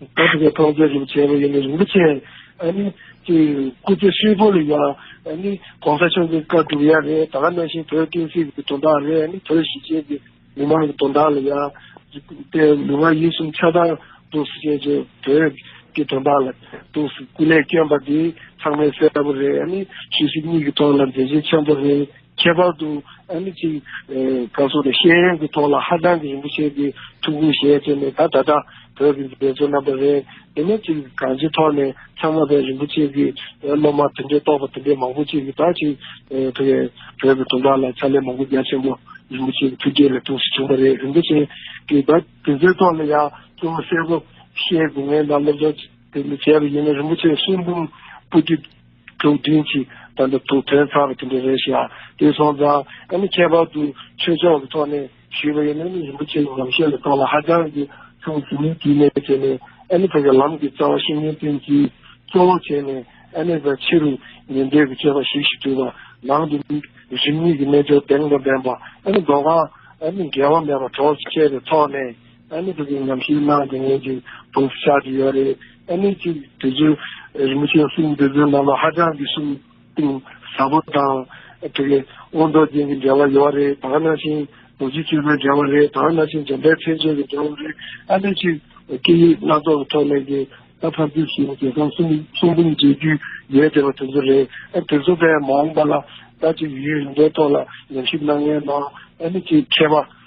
ད་ཐེ་ཀའི་ཐོག་མཛད་རིམ་བྱས་པ་ཡིན་ནི་རིན་པོ་ཆེ་ཨ་ནི་ཀྱི་སྐུ་ཚེ་ཧྲིལ་པོ་ལ་ཡང་ཨ་ནི་གོང་ས་མཆོག་གི་བཀའ་བསྒྲུབ་ཡ་རེད་ད་གནང་བཞིན་བོད་བསྟན་སྲིད་ཀྱི་དོན་དག་རེད་ཨ་ནི་བོད་གཞིས་བྱེས་ཀྱི་མི་མང་གི་དོན་དག་ལ་ཡང་དེ་ལུས་ངག་ཡིད་གསུམ་ཆགས་སྡང་གདུག་སེལ་བྱེད་ཅིང་བོད་ཀྱི་དོན་དག་ལ་གདུག་སེལ་སྐུ་ལས་བསྐྱོན་པ་འདི་ཚང་མས་གསལ་པོ་རེད་ཨ་ནི་ཆོས་སྲིད་གཉིས་ཀྱི་ཐོག་ལ་མཛད་རྗེས་ཆེན་པོ་རེད། ཁྱད་པར་དུ་ཨ་ནི་ཚིག་ག་སོགས་ཀྱི་ཤེས་ཡོན་གྱི་ཐོག་ལ་ཧ་ཅང་གི་རིན་པོ་ཆེ་འདི་ཐུགས་ཁུར་བཞེས་བྱས་ནས་ད་ད་ལྟ་བོད་ཀྱི་འཛིན་གྲྭའི་རྣམ་པ་རེད་འདི་ནས་ཚིག་གང་ཅིའི་ཐོག་ནས་ཚང་མ་བས་རིན་པོ་ཆེ་གི་སློབ་མ་དེ་འདྲའི་རྟོགས་པ་དེ་འདྲའི་མང་པོ་ཅིག་གིས་ད་ཅིག་བོད་ཀྱི་དུང་དཀར་ལ་ཕྱག་ལས་མང་པོ་རྒྱ་ཆེན་པོ་རིན་པོ་ཆེ་གི་ཐུགས་རྗེ་ལས་ཐུགས་སུ་བྱུང་བ་རེད་རིན་པོ་ཆེ་གིས་ད་དེ་ཚོའི་ཐོག་ལ་ཡང་གཙོ་བོ་གསལ་པོ་ཤེས་དགོས་ངེས་ན་སློབ་སྦྱོང་དེ་འདྲ་བྱས་པ་ཡིན་ན་རིན་པོ་ཆེ་གསུང་འབུམ་པོ་ཏི། དུག་བདུན་གྱིས་དང་དུ་དུག་ཐལ་ཚར་བ་དེ་འདྲ་རེད་ཤག་དེ་སོང་ཙང་ཨ་ནི་ཁྱད་པར་དུ་ཆོས་ཕྱོགས་ཀྱི་ཐོག་ནས་ཞུས་པ་ཡིན་ན་ནི་རིན་པོ་ཆེའི་ཉམས་བཞེས་ལ་ཐོག་ལ་ཧ་ཅང་གི་ཆུང་ཟིན་མོད་དུས་ནས་བྱས་ནས་ཨ་ནི་བོད་ཀྱི་ལམ་གྱི་རྩ་བ་བཤེས་གཉེན་བསྟེན་གྱིས་གཙོ་བོར་བྱས་ནས་ཨ་ནི་བའི་ཕྱི་རུ་ཉན་འདོད་ཀྱི་སྤྱོད་པ་ཞིག་ཞིག་དུས་པ་ནང་དུ་རིམ་གཉིས་ཀྱི་རྣལ་འབྱོར་གདེང་དང་ལྡན་པ་ཨ་ནི་མདོ་གང་ཨ་ནི་འགལ་བ་མེད་པ་གྲོགས་བཅས་པའི་ཐོག་ནས། ཨ་ནེ་དེ་གའི་ཉམས་ཞིབ་གནང་དེ་ངས་ཀྱི་དུང་ཕྱུར་ཆགས་ཀྱི་ཡོད་རེད་ཨ་ནེ་གཅིག་དེ་ཚོའི་རིན་པོ་ཆེའི་གསུང་འདི་ཚོའི་ནང་ལ་ཧ་ཅང་གི་གསུང་གཏིང་ཟབ་པོ་དང་དེ་གའི་དབང་རྡོ་རྗེ་གི་འབྲེལ་བ་ཡོད་རེད་དྭགས་ན་ཤིང་རྡོ་རྗེ་བཅུ་པའི་འབྲེལ་བ་རེད་དྭགས་ན་ཤིང་འཇམ་དཔལ་མཚན་ཅན་གི་འབྲེལ་བ་རེད་ཨ་ནེ་གཅིག་སྐད་ཡིག་སྣ་ཚོགས་ཀྱི་ཐོག་ནས་ཀྱི་ད་ཕར་ཚུར་ཞིག་དེ་གའི་གསུང་གསུང་འབུམ་མཇལ་རྒྱུ་ཡོད་དེ་བ་དེ་ཚོ་རེད་ཨ་དེ་ཚོ་བས་མ་འོངས་པ་ལ་ད་ཅིག་ཡུལ་འདིའི་ཐོག་ལ་ཉམས་ཞིབ་གནང་མཁན་ནང་ཨ་ནེ་གཅིག་མཁས་པ་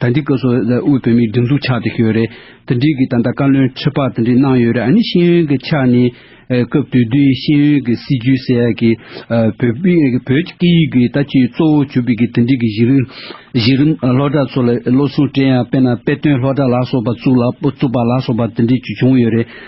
ད་འདི་སྐབས་སུ་དབུས་བོད་མིའི་སྒྲིག་འཛུགས་ཆགས་ཏེ་ཞོལ་རེད་དེ་འདྲིས་ཀྱི་ད་ལྟ་བཀའ་བློན་ཁྲི་པ་དེ་འདྲིས་གནང་ཡོད་རེད་ཨ་ནི་ཤེས་ཡོན་གྱི་ཆ་ནས་སྐབས་དུས་དུས་ཤེས་ཡོན་གྱི་སྲིད་ཇུས་ཟེར་ཡག་གི་བོད་བོད་ཀྱི་སྐད་ཡིག་གི་ད་ཅི་གཙོ་བོ་གྱུར་པའི་གི་དེ་འདྲིས་གི་གཞི་རིམ་གཞི་རིམ་སློ་གྲྭ་ཚོ་ལ་བློ་སྲུང་བཀྲས་ཡང་དཔེ་ན་དཔེ་སྟོན་སློ་གྲྭ་ལགས་སོགས་པ་བཙུགས་ལ་བཙུགས་པ་ལགས་སོགས་པ་དེ་འདྲིས་ཀྱི་བྱུང་ཡོད་རེད།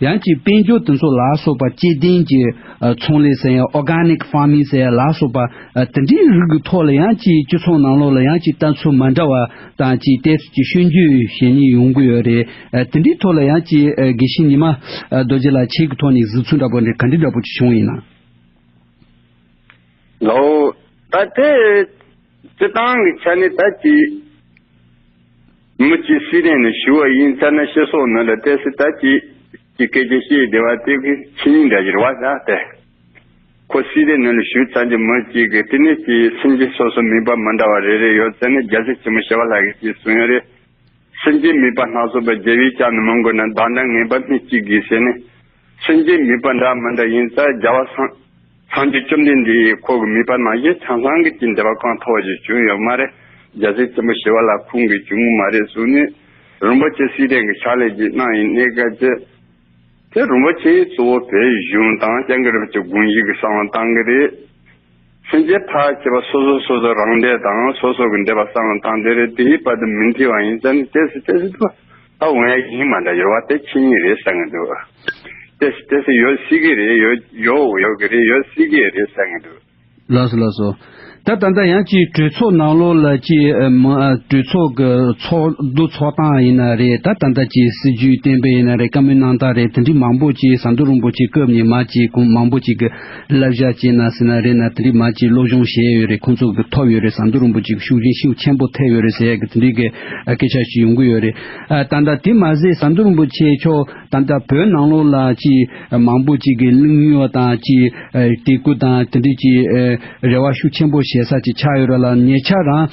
ཡང་ཅིག་དཔལ་འབྱོར་དུས་མཚོ་ལ་སོགས་པ་སྐྱེ་ལྡན་གྱི་ཚོང་ལས་ཟེར་ཡང Organic Farming ཟེར་ལ་སོགས་པ་དེ་འདྲའི་རིགས་ཀྱི་ཐོག་ལ་ཡང་ཅིག་སྤྱི་ཚོགས་ནང་ལོགས་ལ་ཡང་ཅིག་ལྟ་ཚུལ་མ་འདྲ་བ་དང་ཅིག་བལྟས་ཚུལ་གྱི་ཤོད་རྒྱུ་ཞེ་གཉིས་ཡོང་གི་ཡོད་རེད། དེ་འདྲའི་ཐོག་ལ་ཡང་ཅིག་དགེ་བཤེས་ཉི་མ་རྡོ་རྗེ་ལགས་ཁྱེད་ཀྱི་ཐོག་ནས་གཟིགས་ཚུལ་འདྲ་པོ་འདྲ་ག་འདྲི་འདྲ་པོ་ཅིག་བྱུང་ཡིན་ན། ལོ། ད་དེ་སྤྱི་སྟངས་ཀྱི་ཆ་ནས་ད་ཅིག། མུ་ཅི་སི་ལན་ནི་ཞུ་བ་ཡིན་ཚར་ན་ཤེས་སོགས་ནི་ལ་ཏེ་སི་ཏཱ་ཅི་ཀྱི་སྐད་ཆ་ཤེས་བདེ་བ་སྟེ་གི་ཕྱི་ཉིན་འདྲ་བཞིར་བ་ས་སྟེ། ཁོ་སི་ལན་ནི་ལ་ཞུ་ཚར་རྗེས་མུ་ཅི་གི་བསྟི་གནས་ཀྱི་སེམས་ཅན་སོ་སོ་མིན་པ་མི་འདྲ་བ་རེ་རེ་ཡོད་ཚད་ནི་རྒྱལ་སྲས་ཆེན་མོ་བྱེ་བ་ལྷ་གིས་ཀྱིས་གསུང་ཡོད་རེད། སེམས་ཅན་མིན་པ་སྣ་ཚོགས་པའི་རྒྱལ་བའི་ལྕགས་ནི་མི་འགོ་ན་བདག་འདྲ་ངན་པ་སྨི་གཅིག་གིས་ཟེར་ནས། མཚོན་གྱི་མིད་པ་འདྲ་མི་འདྲ་ཡིན་ཙང་རྒྱལ་བ་སངས་རྒྱས་བཅོམ་ལྡན་འདས་ཡིས་ཁོ་གི་མིད་པ་ནང་བཞིན་ཆང་ཚང་གི་གྱི་འདི་བ་གང་ཐོག་བཞིན་བྱུང་ཡོད་མ་རེད་རྒྱལ་སྲས་ཆེན་པོ་ཞི་བ་ལ་ཁུང་གིས་བྱུང་མ་རེད་གསུང་ནས་རིན་པོ་ཆེ་སྲིད་ལྡན་གི་ཕྱག་ལས་ཀྱི་གནང་ཡིན་གནས་སྐལ་བཅད་དེ་རིན་པོ་ཆེའི་གཙོ་བོ་བོད་གཞུང་དང་སྤྱང་ཀི་རབ་ཀྱི་དགོངས་གཞི་གི་གསང་བ་བཏང་གི་རེད། སེམས་ཅན་ཕ་ཁྱེད་པ་སོ་སོ་སོ་སོ་རང་འདས་དང་སོ་སོ་གི་འདས་པ་བསམ་བློ་བཏང་དེ་རེད་དེའི་བར་དུ་མི་འཐི་བ་ཡིན་ཙང་ནི་ཏེ་སི་ཏེ་སི་འདུག་ད་འོ་ཡ་ཡིན་མ་འདྲ་ཡོད་བ་དེ་ཁྱེད་ཉིད་རེད་ཟེར་ངེས་འདུག་ཏེ་སི་ཏེ་སི་ཡོད་སྲིད་གི་རེད་ཡོད་ཡོད་ཡོད་གི་རེད་ཡོད་སྲིད་གི་རེད་ཟེར་ངེས་འདུག། ལགས་སོ་ལགས་སོ། ད་ད་ལྟ་ཡང་ཅིག་གྲོས་ཚོགས་ནང་ལོགས་ལ་ཅིག་གྲོས་ཚོགས་ཀྱི་ཚོགས་འདུ་ཚོགས་སྟངས་ཡིན་ན་རེད་ད་ད་ལྟ་ཅིག་སྲིད་ཇུས་གཏན་འབེབས་ཡིན་ན་རེད་བཀའ་མོལ་གནང་སྟངས་རེད་དེ་འདྲི་མང་པོ་ཅིག་ཟམ་དོ་རུང་པོ་ཅིག་སྐབས་ཉི་མ་ཅིག་གུང་མང་པོ་ཅིག་གི་བསླབ་བྱ་སྤྱད་ན་སྲིད་ན་རེད་ན་དེ་འདྲའི་མ་ཅིག་བློ་སྦྱོང་བྱས་ཡོད་རེད་ཁོང་ཚོ་གི་ཐོབ་ཡོད་རེད་ཟམ་གདོང་རིན་པོ་ཆེ་གི་ཤུགས་རྐྱེན་ཤིན་ཆེན་པོ་ཐེབས་ཡོད་རེད་ཟེར་ཡག་གི་དེ་འདྲའི་གི་སྐད་ཆ་ཞིག་ཡོང་གི་ཡོད་རེད་ད། དེ་མ་ཟད་ཟམ་གདོང་རིན་པོ་ཆེ་མཆོག་ད་ལྟ་བོད་ནང་ལོགས་ལ་ཅི་མང་པོ་ཅིག་གི་གླིང་སྨྱོ་དང་ཅི་དེ་ཀུ་དང་དེ་འདྲའི་ཅི་རེ་བ་ཤུགས་ཆེན་པོ་བྱེད་ས་ཅིག་ཆགས་ཡོད་རེད་ལ་ཉེ་ཆར་རང་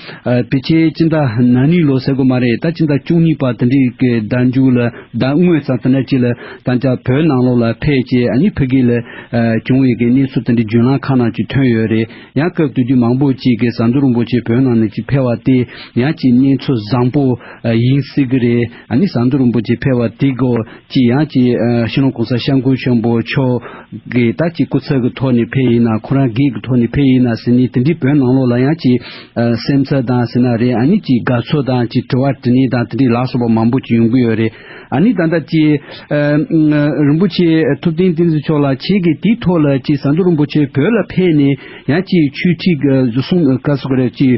བི་ཆེ་སྤྱི་ཟླ་ན་ནི་ལོ་ཟེར་དགོས་མ་རེད་ད་སྤྱི་ཟླ་བཅུ་གཉིས་པ་དེ་འདྲའི་གི་ཟླ་མཇུག་ལ་ཟླ་དངོས་ཙམ་དེ་འདྲ་ཅིག་ལ། དང་བཅས་བོད་ནང་ལོགས་ལ་ཕེབས་རྗེས་ཨ་མྱེ་ཕུ་གེ་ལ་བྱུང་བའི་གནས་ཚུལ་དེ་འདྲའི་འཇོན་ལངས་ཁག་ནང་ཅིག་ཐོན་ཡོད་རེད་ཡང་སྐབས་དུས་དུས་མང་པོ་ཅིག་གིས་ཟམ་གདོང་རིན་པོ་ཆེ་བོད་ནང་ནས་ཅིག་ཕེབས་བ་དེ་ཡང་ཅིག་གནས་ཚུལ་བཟང་པོ་ཡིན་སྲིད་གི་རེད་ཨ་མྱེ་ཟམ་གདོང་རིན་པོ་ཆེ་ཕེབས་བ་དེ་གོ་ཅིག་ཡང་ཅིག་ཤིང་ལོང་གོང་ས་ཤམ་སྐུ་ཆེན་པོ་མཆོག་གིས་ད་ཅིག་སྐུ་ཚབ་ཀྱི་ཐོག་ནས་ཕེབས་ཡིན་ན་ཁོ་རང་སྒེར་གྱི་ཐོག་ནས་ཕེབས་ཡིན་ན་ཟེར་ནས་དེ་འདྲའི་བོད་ནང་ལོགས་ལ་ཡང་ཅིག་སེམས་འཚབ་དང་ཟེར་ན་རེད་ཨ་མྱེ་ཅིག་དགའ་ཚོར་དང་ཅིག་དྲི་བ་དྲི་ནས་དང་དེ་འདྲའི་ལགས་སོགས་པ་མང་པོ་ཅིག་ཡོང་གི་ཡོད་རེད། ཨ་ནི་ད་ལྟ་ཅི། རིན་པོ་ཆེ་ཐུབ་བསྟན་བསྟན་འཛིན་མཆོག་ལ་ཁྱེད་ཀྱིས་དེའི་ཐོག་ལ་ཅི་ཟ་འདོད་རིན་པོ་ཆེ་བོད་ལ་ཕེབས་ནས་ཡང་ཅི་ཆོས་ཁྲིགས་བཟོ་གསུངས་ཀ་གསུ་ཀ་རེད་ཅི།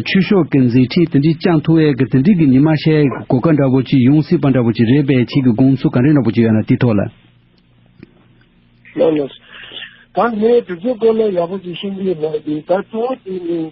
ཆོས་ཕྱོགས་ཀྱི་མཛད་འཕྲིན་དེ་འདྲའི་ཅང་ཐུ་བས་ཀྱི་དེ་འདྲའི་ཀྱི་ཉི་མ་ཤའི་གོ་ཀ་འདྲ་བོ་ཅི་ཡོང་སྲིད་པ་འདྲ་བོ་ཅི་རེད་པས་ཁྱེད་ཀྱི་དགོངས་ཚུལ་ག་འདྲ་འདྲ་བོ་ཅི་ཡོད་ན་དེའི་ཐོག་ལ། ལོ་ལོ། ད་ངས་དེ་ཚོའི་སྐོར་ལ་ཡག་པོ་ཅིག་ཤེས་ཀྱི་མ་རེད་ད་གཙོ་བོ་དེ་ནི།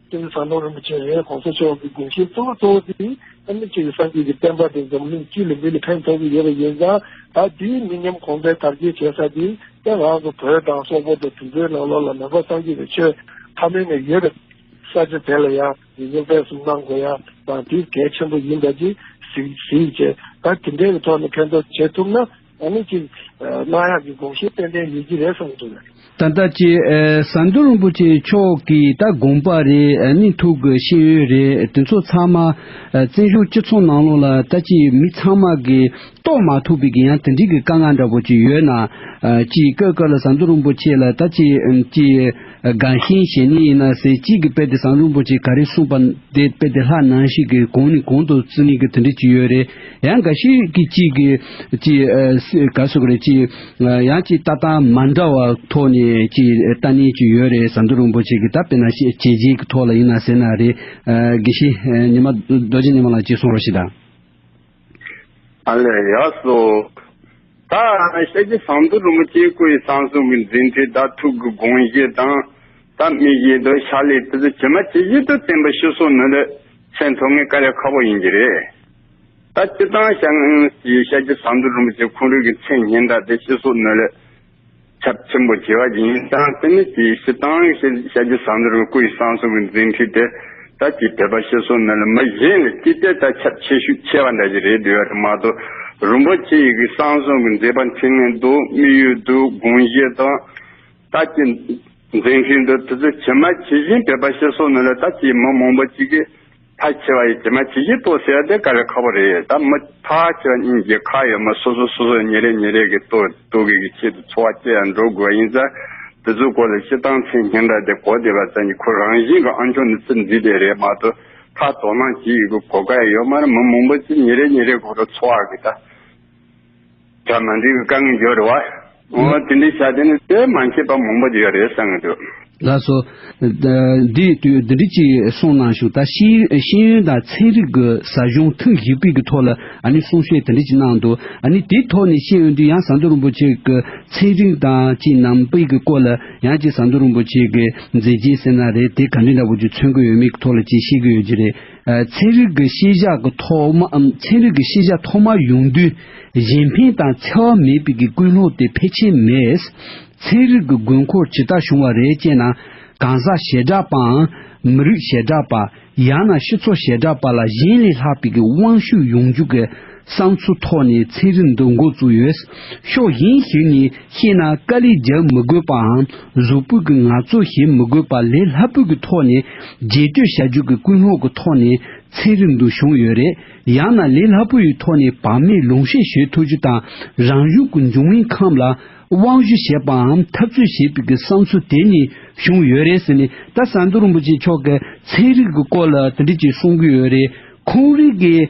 དེ་ནས་ཟམ་གདོང་རིན་པོ་ཆེ་ཡང་གོང་ས་མཆོག་གི་དགོངས་བཞེད་གཙོ་བོ་གཙོ་བོ་དེ་ཨ་མེ་ཆི་ཀའི་སངས་རྒྱས་ཀྱི་བསྟན་པ་དེ་འཛམ་གླིང་སྤྱི་ལ་མི་ལ་ཕན་ཐོགས་ཀྱི་ཡོད་པ་ཡིན་ཙང་ད་དུས་མི་ཉམས་གོང་འཕེལ་དར་རྒྱས་བྱེད་ས་དེ་བཙན་དབང་གི་བོད་དང་སོག་པོ་དང་དུད་འགྲོའི་ལག་ལོག་ལ་མེ་འབར་སངས་རྒྱས་པའི་ཆོས་ཕ་མེས་ནས་ཡོད་པའི་ས་ཆ་དེ་ལ་ཡང་ཉེས་སྐྱོན་སྤེལ་གསུམ་གནང་དགོས་ཡ་ཙང་དེ་གལ་ཆེན་པོ་ཡིན་པ་གྱིས་གཟིགས་གཟིགས་བྱས་ད་དེ་འདྲའི་ཐོག་ནས་ཕན་ཐོགས་བྱེད་ཐུབ་ན། ཨ་མེས་ཀྱིས། གནང་ཡག་གི་དགོངས་བཞེས་ཏན་ཏན་ཡོད་ཀྱི་རེད་གསུངས་འདུག། ད་ལྟ་ཀྱི་ཟ་འདོད་རིན་པོ་ཆེ་མཆོག་གིས་ད་དགོངས་པ་རེད་ཨ་མེས་ཐུགས་ཀྱི་ཤེས་ཡོན་རེད་དེ་ཚོ་ཚང་མ་བཙན་བཞུགས་སྤྱི་ཚོགས་ནང་ལོག་ལ་ད་ཀྱི་མི་ཚང་མ་གིས་རྟོགས་མ་ཐུབ་པའི་གི་ཡང་དེ་འདྲིའི་གི་དཀའ་ངལ་འདྲ་པོ་ཅིག་ཡོད་ན། ཀྱི་ཀ་ཀ་ལ་ཟ་འདོད་རིན་པོ་ཆེ་ལ་ད་ཀྱི་ཀྱི། སྒང་ཤིང་ཞེས་ནི་ཡིན་ན་ཟེར་གཅིག་གི་དཔེ་དེ་བཟང་རིན་པོ་ཆེས་ག་རེ་གསུངས་པ་དེ་དཔེ་དེ་ལྷག་ནང་ཞིག་གིས་གོང་ནས་གོང་དུ་རྩོམ་ཡིག་གི་དོན་འགྲེལ་གྱི་ཡོད་རེད་ཡང་འགའ་ཞིག་གིས་གཅིག་གིས་ཅི་ག་གསུངས་ཀྱི་རེད་ཅི་ཡང་ཅི་ལྟ་སྟངས་མ་འདྲ་བ་ཐོག་ནས་ཅི་ལྟ་ནས་ཀྱི་ཡོད་རེད་བཟང་རྡོ་རིན་པོ་ཆེས་གི་ད་དཔེ་ན་བྱས་རྗེས་ཀྱི་ཐོག་ལ་ཡིན་ན་ཟེར་ན་རེད་དགེ་བཤེས་ཉི་མ་རྡོ་རྗེ་ཉི་མ་ལགས་ཀྱིས་གསུངས་རོགས་ཞེས་དང། ཨ་ལས་ཡག་སོ། ད་ཤ་ཀྱི་ཟངས་མདོག་རུ་མོ་སྐྱེ་དགུ་ཡི་ཟངས་སོང་གི་འཛིན་གྲི་དག་ཐུག་གི་དགོངས་བཞེད་དང། ད་མི་བཞེད་དོ་ཤ་ལས་ཕུ་ཚུ་ཇི་མ་ཇི་བཞེད་དུ་བསྟན་པ་ཤི་སོང་ནི་ལས་ཚན་ཐོ་ངའི་དཀའ་ལས་ཁ་བོ་ཡིན་གྱི་རེད། ད་སྤྱི་བཏང་ཤ་ངའི་ཤ་ཀྱི་ཟངས་མདོག་རུ་མོ་སྐྱེ་ཁུང་རུས་ཀྱི་མཚན་སྙན་དག་དེ་ཤི་སོང་ནི་ལས། ཚབས་ཆེན་པོ་བྱས་པ་ཡིན་ཙང་དེ་ནི་དེའི་ཕྱི་དང་ཤཱཀྱ་བཟང་དར་བའི་སྐུ་ཡི་གསང་གསུམ་གྱི་འཛིན་ཁྲིད་དེ་ད་ཀྱི་དད་པ་ཤེས་སོ་ནི་ལ་མ་གཞན་ལས་ཅི་སྟེ་ད་ཁྱབ་ཆེ་ཤུགས་ཆེ་བ་འདྲ་ཞིག་རེད་འདོད་ཡོད་མ་གཏོགས་རིན་པོ་ཆེ་ཡི་གི་གསང་གསུམ་གྱི་མཛད་པ་འཕྲིན་ལས་འདུག་དམིགས་ཡུལ་འདུག་དགོངས་བཞེད་དང། ད་ཀྱི་འཛིན་ཁྲིད་འདུག་དེ་ཚོ་ཇི་མ་ཇི་བཞིན་དད་པ་ཤེས་སོ་ནི་ལ་ད་ཀྱི་མི་མང་པོ་གཅིག་གིས། ཕ་ཁྱེད་བ་ཡི་ཇེ་མ་ཇི་ཞིག་ཏོ་ཟེར་དེ་ག་རེ་ཁ་བོ་རེད་ད་མི་ཕ་ཁྱེད་བ་གཉིས་ཀྱི་ཁ་ཡོད་མ་སོ་སོ་སོ་སོ་ཉེ་རེ་ཉེ་རེ་གི་ཏོ་ཏོ་གི་གི་ཆེད་དུ་འཚོ་བ་སྐྱེལ་ཡང་འགྲོ་དགོས་བ་ཡིན་ཙང་དེ་ཚོའི་སྐོར་ལ་ཤི་སྟངས་ཚེ་སྙན་གྲགས་དེ་གོ་བདེ་བ་ཙམ་གྱིས་ཁོ་རང་བཞིན་གི་ཨང་ཆུང་ནི་ཚེ་འཛིན་དེ་རེད་མ་གཏོགས་ཁ་དོག་སྣང་ཇི་ཡི་གི་གོ་དགའ་ཡོད་མ་རེད་མི་མང་པོ་ཅིག་ཉེ་རེ་ཉེ་རེ་གོ་རུ་འཚོ་བ་གི་ད། ད་མ་འགྲིག་དཀའ་ངལ་ཡོད་རེད་བ། འོ་དེ་འདྲའི་བྱ་དེ་ནི་དེ་མ་བྱས་པ་མང་པོ་ཡོད་རེད་བསམ་གྱི་འདུག། ལ་སོ། འདི་དུས་འདི་འདྲི་ཅིག་གསུངས་གནང་ཞུ་ད་ཤེས་ཤེས་ཡོན་དང་ཚན་རིག་གི་ཟ་གཞུང་ཐུགས་གཞིག་སྤེལ་གྱི་ཐོག་ལ་ཨ་ནི་གསུང་བཤད་དེ་འདྲི་ཅིག་གནང་འདུག་ཨ་ནི་དེའི་ཐོག་ནས་ཤེས་ཡོན་དུ་ཡང་ཟ་འདོད་རིན་པོ་ཆེ་གི་ཚན་རིག་དང་ཅིག་རྣམ་སྤེལ་གྱི་སྐོར་ལ་ཡང་ཅིག་ཟ་འདོད་རིན་པོ་ཆེ་གི་མཛད་རྗེས་གསན་ན་རེད་དེ་ག་འདྲི་འདྲ་པོ་ཅིག་མཚོན་གྱི་ཡོད་མེད་ཀྱི་ཐོག་ལ་ཅིག་ཤེས་ཀྱི་ཡོད་ཀྱི་རེད། ཚན་རིག་གི་ཤེས་བྱ་གི་ཐོག་མ་འམ་ཚན་རིག་གི་ཤེས་བྱ་ཐོག་མ་ཡོང་དུས་གཞན་ཕན་དང་འཚེ་བ་མེད་པའི་གི་ཀུན་སློང་དེ་ཕལ་ཆེར་མེད། ཚན་རིག་གི་དགོས་མཁོར་ཇི་ལྟར་བྱུང་བ་རེད་ཅེ་ན། གང་ཟག་ཞེ་དྲགས་པའམ་མི་རིགས་ཞེ་དྲགས་པ། ཡང་ན་སྤྱི་ཚོགས་ཞེ་དྲགས་པ་ལ་གཞན་ལས་ལྷག་པའི་གི་དབང་ཤུགས་ཡོང་རྒྱུ་གི། བསང་ཆུ་ཐོག་ནས་ཚན་རིག་འདུ་འགོད་བཙུགས་ཡོད། ཕྱོགས་གཞན་ཞིག་ནས་བཤད་ན་དཀའ་ལས་རྒྱག་མི་དགོས་པའམ་གཟུགས་པོད་ཀྱི་ངར་རྩོད་བྱེད་མི་དགོས་པ་ལས་ལྷ་བོད་ཀྱི་ཐོག་ནས་རྒྱས་སྤྲོས་བྱ་རྒྱུ་གི་ཀུན་སློང་གི་ཐོག་ནས་ཚན་རིག་འདུ་བྱུང་ཡོད་རེད། ཡང་ན་ལས་སླ་པོ་ཡི་ཐོག་ནས་བག་མེད་ལུང་བཤད་བྱེད་ཐུབ་རྒྱུ་དང་རང་གཞུང་གི་འབྱུང་མིང་ཁམས་ལ་དབང་བཞུ་བྱེད་པའམ་འཐབ་རྩོད་བྱེད་པའི་གི་བསང་ཆུ་དེ་ནས་བྱུང་ཡོད་རེད་ཟེར་ནས་ད་ཟམ་གདོང་རིན་པོ་ཆེ་མཆོག་གིས་ཚན་རིག་གི་སྐོར་ལ་དེ་འདྲ་ཅིག་གསུང་གི་ཡོད་རེད། ཁོང་རིགས་ཀྱི།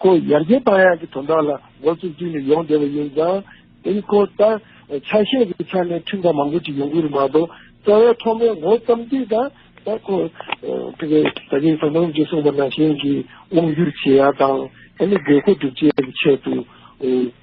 ཁོ་ཡར་རྒྱས་བཏང་ཡག་གི་དོན་དག་ལ་མགོ་བཙུགས་དུས་ནས་ཡོང་བསྡད་པ་ཡིན་ཙང། དེ་ནི་ཁོ་ལྟར་ཆ་ཤས་ཀྱི་ཆ་ནས་ཁྲིམས་ཁང་མང་པོ་ཅིག་ཡོང་གི་རེད་མ་གཏོགས་རྩ་བའི་ཐོག་མའི་མགོ་བརྩམས་དུས་དང་ད་ཁོ་དེ་གའི་ས་སྐྱའི་ས་མཚམས་ཀྱི་སྲུང་བ་ན་གཞོན་གྱི་དབང་བསྒྱུར་བྱེད་ཡག་དང་ད་ནི་དགོས་མཁོ་སྒྲུབ་བྱེད་ཀྱི་ཆེད་དུ་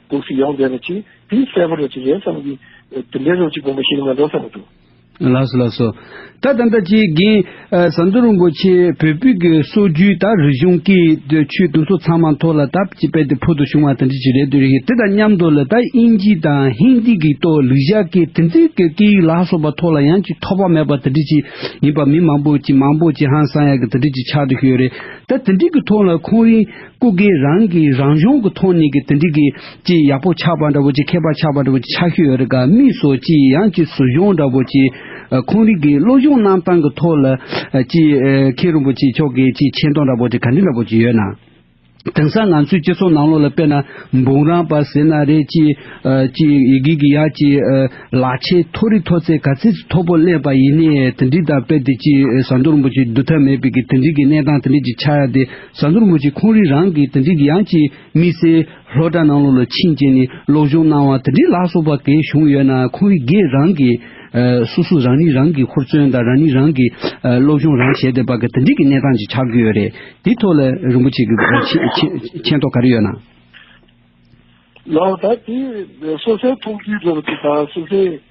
སྒུག་སུ་ཡོང་བསྡད་པ་ཅིག་དེ་གསལ་པོ་རེད་ཅེས་རེད་བསམ་གི། དེ་འདྲའི་རོ་གཅིག་སྒོམ་པ་ཞིག་ནི་མ་འདུག་བསམ་གི་འདུག། ལགས་སོ་ལགས་སོ། ད་ད་ད་ཅིག་གིན། ཟམ་གདོང་རིན་པོ་ཆེ་བོད་ཕུད་ཀྱི་སྲོལ་རྒྱུན་ད་རིག་གཞུང་གི་དུས་ཆོས་དུམ་སོ་ཚང་མ་མཐོ་ལ་དབ་ཅིག་པད་དེ་ཕུལ་དུ་བྱུང་བ་དང་འདྲི་ཅིག་རེད་དུས་རེ་ཡིན་དེ་དང་མཉམ་དུ་ལ་ད་དབྱིན་ཇི་དང་ཧིན་དི་གི་ཏོ་ལིག་བཞག་གི་དེ་འཛིན་གི་སྐད་ཡིག་ལགས་སོ་པ་མཐོ་ལ་ཡང་ཅིག་ཐོག་པ་མེད་པ་དང་འདྲི་ཅིག་ཡིན་པ་མི་མང་པོ་ཅིག་མང་པོ་ཅིག་ཧང་སང་ཡག་གི་དང་འདྲི་ཅིག་ཆགས་དུ་ཤོས་རེད་ད་དེ་འདྲི་གི་ཐོག་ལ་ཁོང་རིན། སྐུ་སྒེར་རང་གི་རང་གཞུང་གི་ཐོག་ནས་ཀྱི་དེ་འདྲི་གི་ཅི་ཡག་པོ་ཆགས་པ་འདྲ་བོ་ཅི་མཁས་པ་ཆགས་པ་འདྲ་བོ་ཅི་ཆགས་ཤོས་ཡོད་རེད་ག་མིས་སོ་ཅི་ཡང་ཅི་སུ་གཞུང་འདྲ་བོ་ཅི་ཁོང་རིགས་ཀྱི་བློ་གཞུང་གནང་སྟངས་ཀྱི་ཐོག་ལ་ཅི་མཁས་རིན་པོ་ཆེ་མཆོག་གིས་ཅི་མཁྱེན་རྟོགས་འདྲ་བོ་ཅི་ག་འདྲི་འདྲ་བོ་ཅི་ཡོད་ན། དེང་སང་ང་ཚོའི་སྤྱི་ཚོགས་ནང་ལོགས་ལ་དཔེར་ན་འབུམ་རམས་པ་ཟེར་ན་རེད་ཅི་ཅི་ཡི་གེ་གི་ཡ་ཅི་ལག་ཆས་མཐོ་རིས་མཐོ་ཚད་ག་ཚད་ཅི་མཐོ་པོ་གླས་པ་ཡིན་ནའི་དེ་འདྲི་དང་དཔེ་དེ་ཅི་ཟ་འདོད་རིན་པོ་ཆེ་བསྡུ་ཐབས་མེད་པའི་གི་དེ་འདྲི་གི་གནས་སྟངས་དེ་འདྲི་ཅི་ཆགས་ཡ་དེ་ས་མཐོར་ངོས་ཀྱིས་ཁོང་རིགས་རང་གི་དོན་འགྲིག་གི་ཡང་ཅིག་དམིགས་བསལ་ལྷོ་བྲག་ནང་ལོགས་ལ་ཕྱིན་རྗེས་ནས་ལོག་གཞུང་གནང་བ་དེ་འདྲའི་ལགས་སོ་པ་གས་བྱུང་ཡོད་ན་ཁོང་རིགས་འགས་རང་གི་སོ་སོ་རང་ཉིད་རང་གིས་ཧུར་བརྩོན་དང་རང་ཉིད་རང་གིས་སློབ་སྦྱོང་རང་བྱས་ཏེ་པ་གས་དེ་འདྲིག་གི་གནས་སྟངས་ཅིག་ཆགས་ཀྱི་ཡོད་རེད་དེའི་ཐོག་ལ་རིན་པོ་ཆེ་གི་མཁྱེན་རྟོགས་ག་རེ་ཡོད་ན། ལགས་ད་དེ་སོ་སོའི་མཐོང་ཚུལ་རེད་པ་དེ་དག་སོ་སོའི།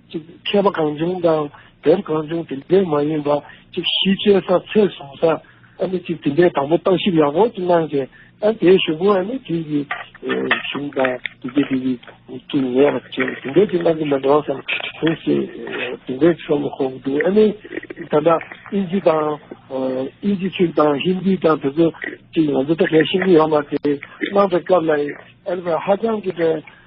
གཅིག་མཁས་པ་གང་བྱུང་དང་དེབ་གང་བྱུང་དེ་འདྲས་མ་ཡིན་པ་གཅིག་གཞི་བཅོལ་ས་ཚད་བཟུང་ས་ཨ་ནི་གཅིག་དེ་འདྲས་དང་པོ་བརྟག་ཞིབ་ཡག་པོ་གཅིག་གནང་ཚེ་ཨ་དེའི་གཞུང་གོ་ཨ་ནི་དུས་ཀྱི་གཞུང་དང་དུས་ཀྱི་དུས་ཀྱི་གཅིག་ངེས་པ་དེ་འདྲས་གཅིག་གནང་གི་མི་འདུག་སམ་གང་ཞིག་དེ་འདྲས་ཆོག་མི་ཁོག་འདུག་ཨ་ནི་ད་ལྟ་ཨིན་ཇི་དང་ཨིན་ཇི་ཚིག་དང་ཧིན་དི་དང་དེ་ཚོ་གཅིག་ང་ཚོ་ད་གལ་ཤེས་ཀྱི་ཡོད་མ་རེད་གནང་པའི་སྐབས་ལ་ཨ་ནི་ཧ་ཅང་གི་དེ།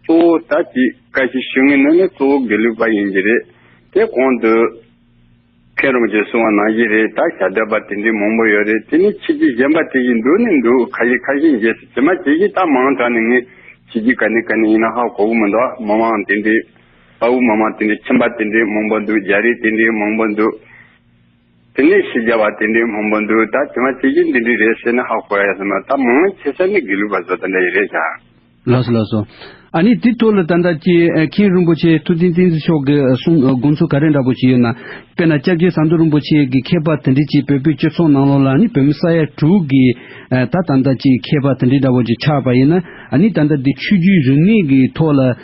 གཙོ་བོ་ད་ཅི་བཀའ་བཞིན་ཞུ་ངེས་ནི་ནི་གཙོ་བོ་དགེ་ལུགས་པ་ཡིན་གྱི་རེད། དེ་གོང་དུ། མཁན་རོང་རྗེ་གསུང་བ་ནང་བཞིན་རེད་ད་བྱ་འདོད་པ་དེ་འདྲའི་མང་པོ་ཡོད་རེད་དེ་ནི་ཁྱེད་ཀྱིས་གཞན་པ་དེ་བཞིན་འདུག་ནི་འདུག་ཁ་ཞིག་ཁ་ཞིག་འགྱེད་སུ་བྱེད་མ་བྱེད་ཀྱི་ད་མང་དྲགས་ནས་ངས་བྱེད་ཀྱི་ག་ནས་ག་ནས་ཡིན་ན་ཧ་གོ་བོ་མི་འདུག་མི་མང་དེ་འདྲའི། དཔའ་བོ་མི་མང་དེ་འདྲའི་ཁྱིམ་པ་དེ་འདྲའི་མང་པོ་འདུག་རྒྱ་རིགས་དེ་འདྲའི་མང་པོ་འདུག། དེ་ནས་ཞེས་བྱ་བ་དེ་འདྲའི་མང་པོ་འདུག་ད་དེ་མ་བྱེད་ཀྱི་འདི་འདྲའི་རེད་ཟེར་ན་ཧ་གོ་ཡ་ས་མ་ད་མང་ན་ཆེ་ས་ནི་དགེ་ལུགས་པ་ཚོ་ད་འདྲ་ཡི་རེད་ཀྱང། ལགས་སོ་ལགས་སོ། ཨ་ནི་དེ་ཐོག་ལ་ད་ལྟ་ཀྱི་མཁན་རིན་པོ་ཆེ་ཐུབ་བསྟན་བསྟན་འཛིན་མཆོག་གི་གསུང་དགོངས་ཚུལ་ག་རེ་འདྲ་པོ་ཞིག་ཡོད་ན། དཔེར་ན་སྐྱབས་རྗེ་ཟམ་གདོང་རིན་པོ་ཆེ་གི་མཁས་པ་དེ་འདྲི་གཅིག་བོད་པའི་སྤྱི་ཚོགས་ནང་ལོགས་ལ་ནི་བོད་མི་ས་ཡ་དྲུག་གི་ད་ད་ལྟ་ཀྱི་མཁས་པ་དེ་འདྲི་འདྲ་པོ་ཅིག་ཆགས་པ་ཡིན་ན་ཨ་ནི་ད་ལྟ་འདི་ཆོས་རྒྱུད་རིག་གནས་ཀྱི་ཐོག་ལ་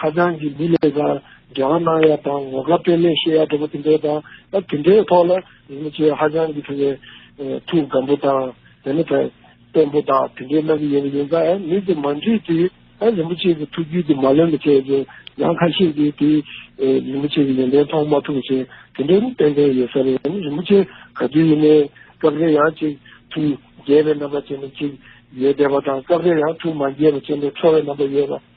ཧ་ཅང་གི་མི་ལས་ཀར་འབྲེལ་བ་གནང་ཡ་དང་ངོ་དགའ་དཔེ་ལེགས་བཤད་ཡ་འདྲ་པོ་དེ་འདྲའི་དང་ཨ་དེ་འདྲའི་ཐོག་ལ་རིན་པོ་ཆེ་ཧ་ཅང་གི་ཐུགས་ཀའི་ཐུགས་སྒམ་པོ་དང་དེ་ནས་བལྟན་པོ་དག་དེ་འདྲའི་གནང་གི་ཡོད་པ་ཡིན་ཙང་ཨ་མི་དེ་མ་འདྲིས་དུས་ཨ་རིན་པོ་ཆེ་གི་ཐུགས་རྒྱུད་དེ་མ་ལོན་པ་བྱས་ཅིང་ཡང་ཁ་ཤས་ཀྱིས་དེ་རིན་པོ་ཆེ་གི་ཡོན་ཏན་མཐོང་མ་ཐུབ་ཅིང་དེ་འདྲའི་མི་ཏན་ཏན་ཡོད་ས་རེད་ཨ་རིན་པོ་ཆེ་ག་དུས་ཡིན་ནའི་སྐབས་རེ་ཡང་ཅིག་ཐུགས་རྒྱས་པའི་རྣམ་པ་ཅན་དུ་ཅིག་ཡོད་བསྡད་པ་དང་སྐབས་རེ་ཡང་ཐུགས་མ་རྒྱས་པ་ཅན་དུ་འཕྲོ་བའི་རྣམ་པ་ཡོད་པ།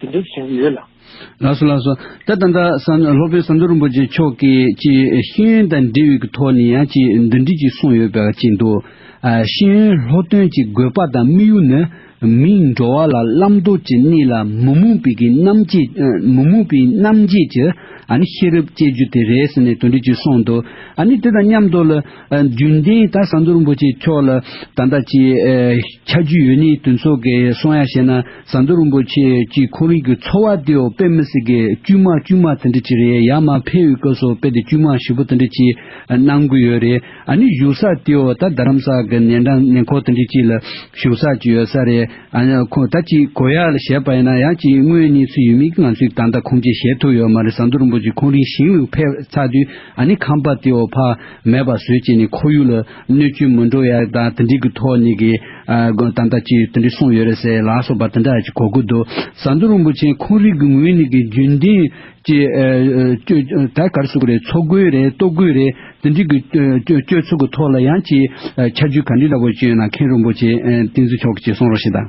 འདི་འདྲའི་བྱིངས་ཡོད་ལ། ལགས་སོ་ལགས་སོ། ད་ད་ལྟ་ལྷོ་དཔོན་བསམ་འགྲུབ་རིན་པོ་ཆེ་མཆོག་གིས་ཅི་ཤེས་ཡོན་དང་འབྲེལ་ཡོད་ཀྱི་ཐོག་ནས་ཡང་ཅི་འདི་འདྲི་ཅིག་གསུངས་ཡོད་པའི་ཅི་འདུག། ཤེས་ཡོན་ལྷོ་སྟོན་གྱི་དགོས་པ་དང་དམིགས་ཡུལ་ནི་མིའི་འགྲོ་བ་ལ་བླ་མདོ་ཅི་གནས་ལ་མི་རྨོངས་པའི་གི་རྣམ་དཔྱད་མི་རྨོངས་པའི་རྣམ་དཔྱད་ཀྱི་ཨ་ནི་ཤེས་རབ་བསྐྱེད་རྒྱུ་དེ་རེད་ཟེར་ནས་དོན་འགྲེལ་ཅིག་གསུངས་འདུག་ཨ་ནི་དེ་དང་མཉམ་དུ་ལ་རྒྱུན་ལྡན་ད་བསམ་འགྲུབ་རིན་པོ་ཆེ་མཆོག་ལ་ད་ལྟ་ཅི་ཆ་རྒྱུས་ཡོད་ནས་དུས་ཚོད་ཀྱི་གསུང་ཡ་བྱས་ན། ཟ་འདོད་རིན་པོ་ཆེ་གྱིས་ཁོ་རིགས་ཀྱི་འཚོ་བ་དེ་ཡང་དཔེ་མི་སྲིད་ཀི་དཀྱུས་མ་དཀྱུས་མ་དེ་འདྲི་གྱི་རེད་ཡ་མ་ཕེ་ཡོད་སྐབས་སུ་དཔེ་དེ་དཀྱུས་མ་བཞི་པོ་དེ་འདྲི་གྱི་གནང་གི་ཡོད་རེད་ཨ་ནི་བཞུགས་ས་དེ་ཡང་ད་རྡ་རམ་ས་གི་ནན་ཏན་ནན་ཁོག་དེ་འདྲི་གྱི་ལ་བཞུགས་ས་གྱི་ཡོད་ས་རེད་ཨ་ནི་ཁོང་ད་ཅིག་གོ་ཡ་ལ་བཤད་པ་ཡིན་ན་ཡང་ཅིག་དངོས་གནས་ཚུལ་ཡོད་མིན་གི་ང་ཚོས་ད་ལྟ་ཁུངས་སྐྱེལ་བྱེད་ཐུབ་ཡོད་མ་རེད་ཟ་འདོད་རིན་པོ་ཆེ་ཁོང་རིགས་ཞིང་ལུགས་ཕེབས་ཚར་དུས་ཨ་ནི་ཁང་པ་དེ་ཡང་ཕ་མེད་པ་བཟོས་བྱས་ནས་ཁོར་ཡུག་ལ། སྣོད་བཅུད་མི་འགྲོ་ཡ་དང་དེ་འགྲིག་གི་ཐོག་གཉིས་ཀྱི་དམ་བཏགས་ཅི་ཡོད་དེ་འདྲས་གསུངས་ཡོད་རེད་ཟེར་ལགས་སོགས་པ་དེ་འདྲ་ཅིག་གོ་དགོས་འདུག་ཟ་འདོད་རིན་པོ་ཆེ་འཁོན་རིགས་ཀྱི་ངོས་ནས་ཀྱི་རྒྱུན་ལྡན་གྱི་སྐྱོད་ད་གར་བསུ་གི་རེད་འཚོ་དགོས་རེད་ལྟོ་དགོས་རེད་དེ་འགྲིག་གི་སྤྱོད་ཚུལ་གྱི་ཐོག་ལ་ཡང་ཅི་ཆ་རྒྱུས་ག་འདྲི་འདྲ་བོ་བྱོས་ན་མཁན་རིན་པོ་ཆེ་བསྟན་འཛིན་མཆོག་གིས་ཅིག་གསུངས་རོགས་ཞེས་དང།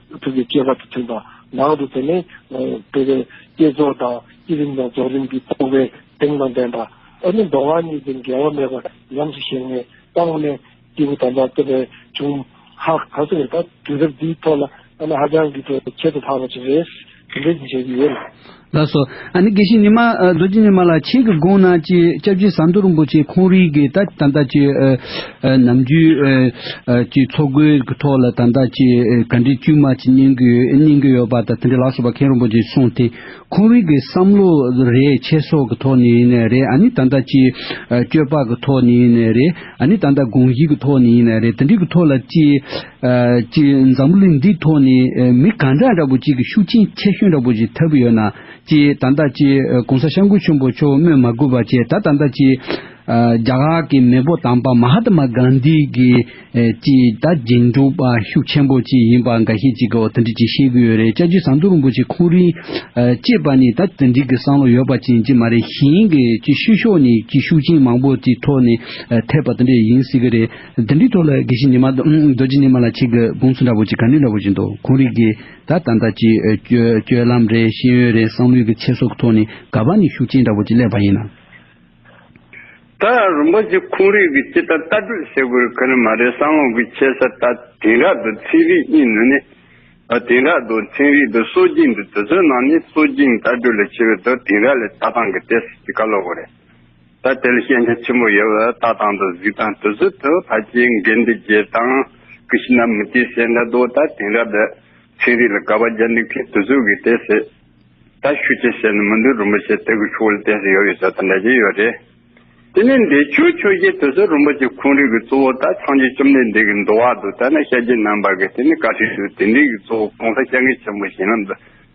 ཐུགས་ཀྱི་སྤྱོད་པ་དང་མཐུན་པ་ངང་དུ་དེ་ནས་སྤེལ་བའི་བསྐྱེད་རྫོགས་དང་བསྐྱེད་རིམ་དང་རྫོགས་རིམ་གྱི་སྤོང་བའི་གདེང་དང་ལྡན་པ། ཨ་ནི་མདོ་སྔགས་གཉིས་ཀྱི་འགལ་བ་མེད་པར་ཉམས་སུ་བཞེངས་ནས་སྤངས་ནས། སྐྱེས་བུ་དམ་པ་སྟོབས་པའི་འབྱུང། ཧཱ། ད་གཟོད་ད་དུས་རབས་འདིའི་ཐོག་ལ་ཨ་ནི་ཧ་ཅང་གི་ཐོག་ཁྱད་དུ་འཕགས་པ་ཅིག་རེད། འདི་བརྗོད་ཀྱི་ཡོད་ལ། ལ་སོགས། ཨ་ནི་དགེ་བཤེས་ཉི་མ་རྡོ་རྗེ་ཉི་མ་ལ་ཆེད་ཀྱི་དགོངས་གནང་ཅི་སྐྱབས་རྗེ་ཟམ་གདོང་རིན་པོ་ཆེ་ཁོང་རིགས་ཀྱི་ད་ལྟ་ད་ཅི། ནམ་རྒྱུན། ཀྱི་འཚོ་གོས་ཀྱི་ཐོག་ལ་ད་ལྟ་ཅི་ག་འདྲི་དཀྱུས་མ་ཅི་གཉན་གྱིན་ཡོད་པ་དང་དེ་འདྲ་ལ་སོགས་པ་མཁན་རིན་པོ་ཆེས་གསུངས་དེ་ཁོང་རིགས་ཀྱི་བསམ་བློ་རེད་ཆེ་སོགས་ཀྱི་ཐོག་ནས་ཡིན་ནའི་རེད་ཨ་ནི་ད་ལྟ་ཅི། སྤྱོད་པ་ཀྱི་ཐོག་ནས་ཡིན་ནའི་རེད་ཨ་ནི་ད་ལྟ་དགོངས་གཞི་ཀྱི་ཐོག་ནས་ཡིན་ནའི་རེད་དེ་འདྲི་ཀྱི་ཐོག་ལ་ཅི། གཅིག་འཛམ་བུ་གླིང་འདིའི་ཐོག་ནས་མི་གང་འདྲ་འདྲ་བོ་གཅིག་གི་ཤུགས་རྐྱེན་ཆེ་ཤོས་འདྲ་བོ་ཞིག་ཐེབས་ཀྱི་ཡོད་ན་ཅི་ད་ལྟ་ཅི་གོང་ས་ཤངས་ཀུ་ཆེན་པོ་མཆོག་སྨོས་མ་དགོས་པ་ཅི་ད་ད་ལྟ་ཅི། རྒྱ་གར་གྱི་མེས་པོ་དམ་པ་མ་ཧ་ཏི་མ་གྷན་དྷི་གིས་ཅི་ད་རྗེས་འཇུག་པ་ཤུགས་ཆེན་པོ་ཅིག་ཡིན་པ་འགའ་ཤས་ཅིག་གིས་དེ་འདྲ་ཅིག་བཤད་ཀྱི་ཡོད་རེད་ཅག་རྗེ་ཟམ་གདུང་རིན་པོ་ཆེ་ཁོང་རིང་ཅེས་པ་ནི་ད་དེ་འདྲིག་གི་བསམ་བློ་ཡོད་པ་ཅན་ཅིག་མ་རེད་གཞན་གྱི་ཅི་ཕྱི་ཕྱོགས་ནས་ཅི་ཤུགས་རྐྱེན་མང་པོ་ཅིག་ཐོག་ནས་ཐེབས་པ་དེ་འདྲ་ཡིན་སྲིད་ཀྱི་རེད། དེ་འདྲའི་ཐོག་ལ་དགེ་བཤེས་ཉི་མ་རྡོ་རྗེ་ཉི་མ་ལ་ཆེད་དགེ་དགོངས་ཚུལ་འདྲ་བོ་ཅིག་ག་ནས་འདྲ་བོ་ཞིག་འདུག་ཁོང་རིགས་ཀྱི་ད་ལྟ་ད་ཅིའི་སྤྱོད་ལམ་རེད་ཤེས་ཡོན་རེད་བསམ་ལུས་ཀྱི་ཆེ་སོགས་ཀྱི་ཐོག་ནས་དགའ་བ་ནི་ཤུགས་ཆེན་འདྲ་བོ་ཅིག་སླེབས་པ་ཡིན་ན། ད་རུང་པ་ཅིག་ཁོང་རིགས་ཀྱི་ཅི་ལྟར་ལྟ་གྲུབ་བསྲེ་དགོས་ག་ནི་མ་རེད་བསམ་བློ་གི་ཆེ་ས་ད་དེང་རགས་དུ་ཚན་རིག་གཉིས་ནི་ནས་ད་དེང་རགས་དུ་ཚན་རིག་དུ་སྲོལ་རྒྱུན་དུ་དུ་ཚོད་ནང་ནས་སྲོལ་རྒྱུན་ལྟ་གྲུབ་ལས་ཆེ་བའི་དུ་དེང་རགས་ལས་ལྟ་སྟངས་ཀྱི་ལྟས་སུ་ཅི་ག་ལོག་གོ་རེད་ད་ལྟའི་ཤེས་བྱ་ཆེན་པོ་ཡོད་པར་ལྟ་སྟངས་དང་གཟིགས་སྟངས་དུས་ཚོད་དུ་ཕལ་ཆེར་འགལ་འདུ་རྒྱས་སྟངས་ཀྱི་ཕྱི་ནང་མི་སྐྱའི་བཤད་འདྲ་མདོ་ལྟ་དེང་རབས་པའི་ཚན་རིག་ལ་དགག་པ་རྒྱག་འདུག་མཁན་དུས་ཚོད་ཀྱི་དེ་སྲིད་ད་ཤུ་ཅེས་བཤད་ནས་མི་འདུག་རིན་པོ་ཆེ་དེ་གི་ཆོ་ལ་དེ་སྲིད་ཡོད་ཡོད་ཟེར་དང་འདྲ་གྱི་ཡོད་རེད། དེ་ནས་འདས་མཆོད་ཆོས་རྗེ་དེ་ཚོ་རིན་པོ་ཆེ་ཁོང་རིགས་ཀྱི་གཙོ་བོ་ད་ཆང་རྗེ་བཅོམ་ལྡན་འདས་ཀྱི་མདོ་བར་དུ་ལྟ་ན་ཤ་རྗེ་ནང་པ་གི་དེ་ནི་བཀའ་ཁྲིར་དུ་དེ་འདྲའི་གི་གཙོ་བོ་གོང་ས་སྐྱབས་མགོན་ཆེན་པོ་གཞན་ལམ་དུ་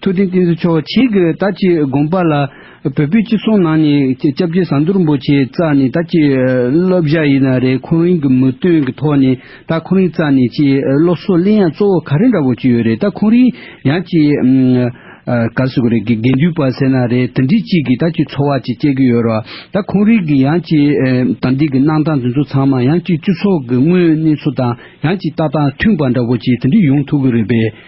ཐུགས་རྟེན་བསྟན་སྲིད་ཆོག་བྱེད་ཀྱི་ད་ཅི་དགོངས་པ་ལ། བོད་པའི་སྤྱི་ཚོགས་ནང་ནས་སྐྱབས་རྗེ་ཟམ་དོར་འབོ་ཆེ་རྩ་ནས་ད་ཅི་སློབ་བཞག་ཡིན་ན་རེད་ཁོང་རིང་གི་མི་དོན་གི་ཐོག་ནས་ད་ཁོང་རིང་རྩ་ནས་ཅི་སློབ་གསོ་གླེང་ཡ་གཙོ་བོ་ག་རེ་འདྲ་བོ་ཅི་ཡོད་རེད་ད་ཁོང་རིང་ཡང་ཅི་ག་ཟེར་གི་རེད་དགེ་འདུན་པ་ཟེར་ན་རེད་དེ་འདྲི་གཅིག་གི་ད་ཅི་འཚོ་བ་ཅི་སྐྱེལ་གི་ཡོད་རོགས་ད་ཁོང་རིང་གི་ཡང་ཅི་དང་འདི་གི་གནང་སྟངས་དེ་ཚོ་ཚང་མ་ཡང་ཅི་སྤྱི་ཚོགས་གི་དངོས་གནས་ཚོ་དང་ཡང་ཅི་ལྟ་སྟངས་མཐུན་པ་འདྲ་བོ་ཅི་དེ་འདྲི་ཡོང་ཐུག་གི་རེད་པས།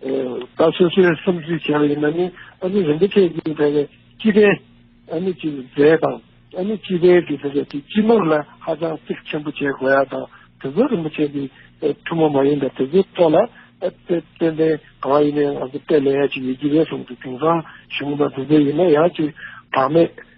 ད་སོ་སོའི་བསམ་ཚུལ་གཞན་ཡིན་ན་ནི་ཨ་ནི་རིན་པོ་ཆེ་ཀྱིས་དེ་བས་སྤྱི་ཕན་ཨ་ནི་ཀྱི་རྫས་དང་ཨ་ནི་སྤྱི་ཕན་གྱི་དེ་བས་ཀྱི་སྤྱི་ནོར་ལ་ཧ་ཅང་གཙིགས་ཆེན་པོ་བྱེད་དགོས་ཡ་དང་དེ་ཚོ་རིན་པོ་ཆེ་གི་ཐུན་མོང་མ་ཡིན་པ་དེ་ཚོའི་ཐོག་ལ་དཔེ་དཔེ་ལྡན་གང་ཡིན་ནའི་ང་ཚོ་དཔེ་ལེན་ཡ་གཅིག་ཡོད་ཀྱི་རེད་གསུངས་འདུག་དེང་སང་གཞུང་དང་དེ་ཚོ་ཡིན་ན་ཡ་གཅིག་བག་མེད།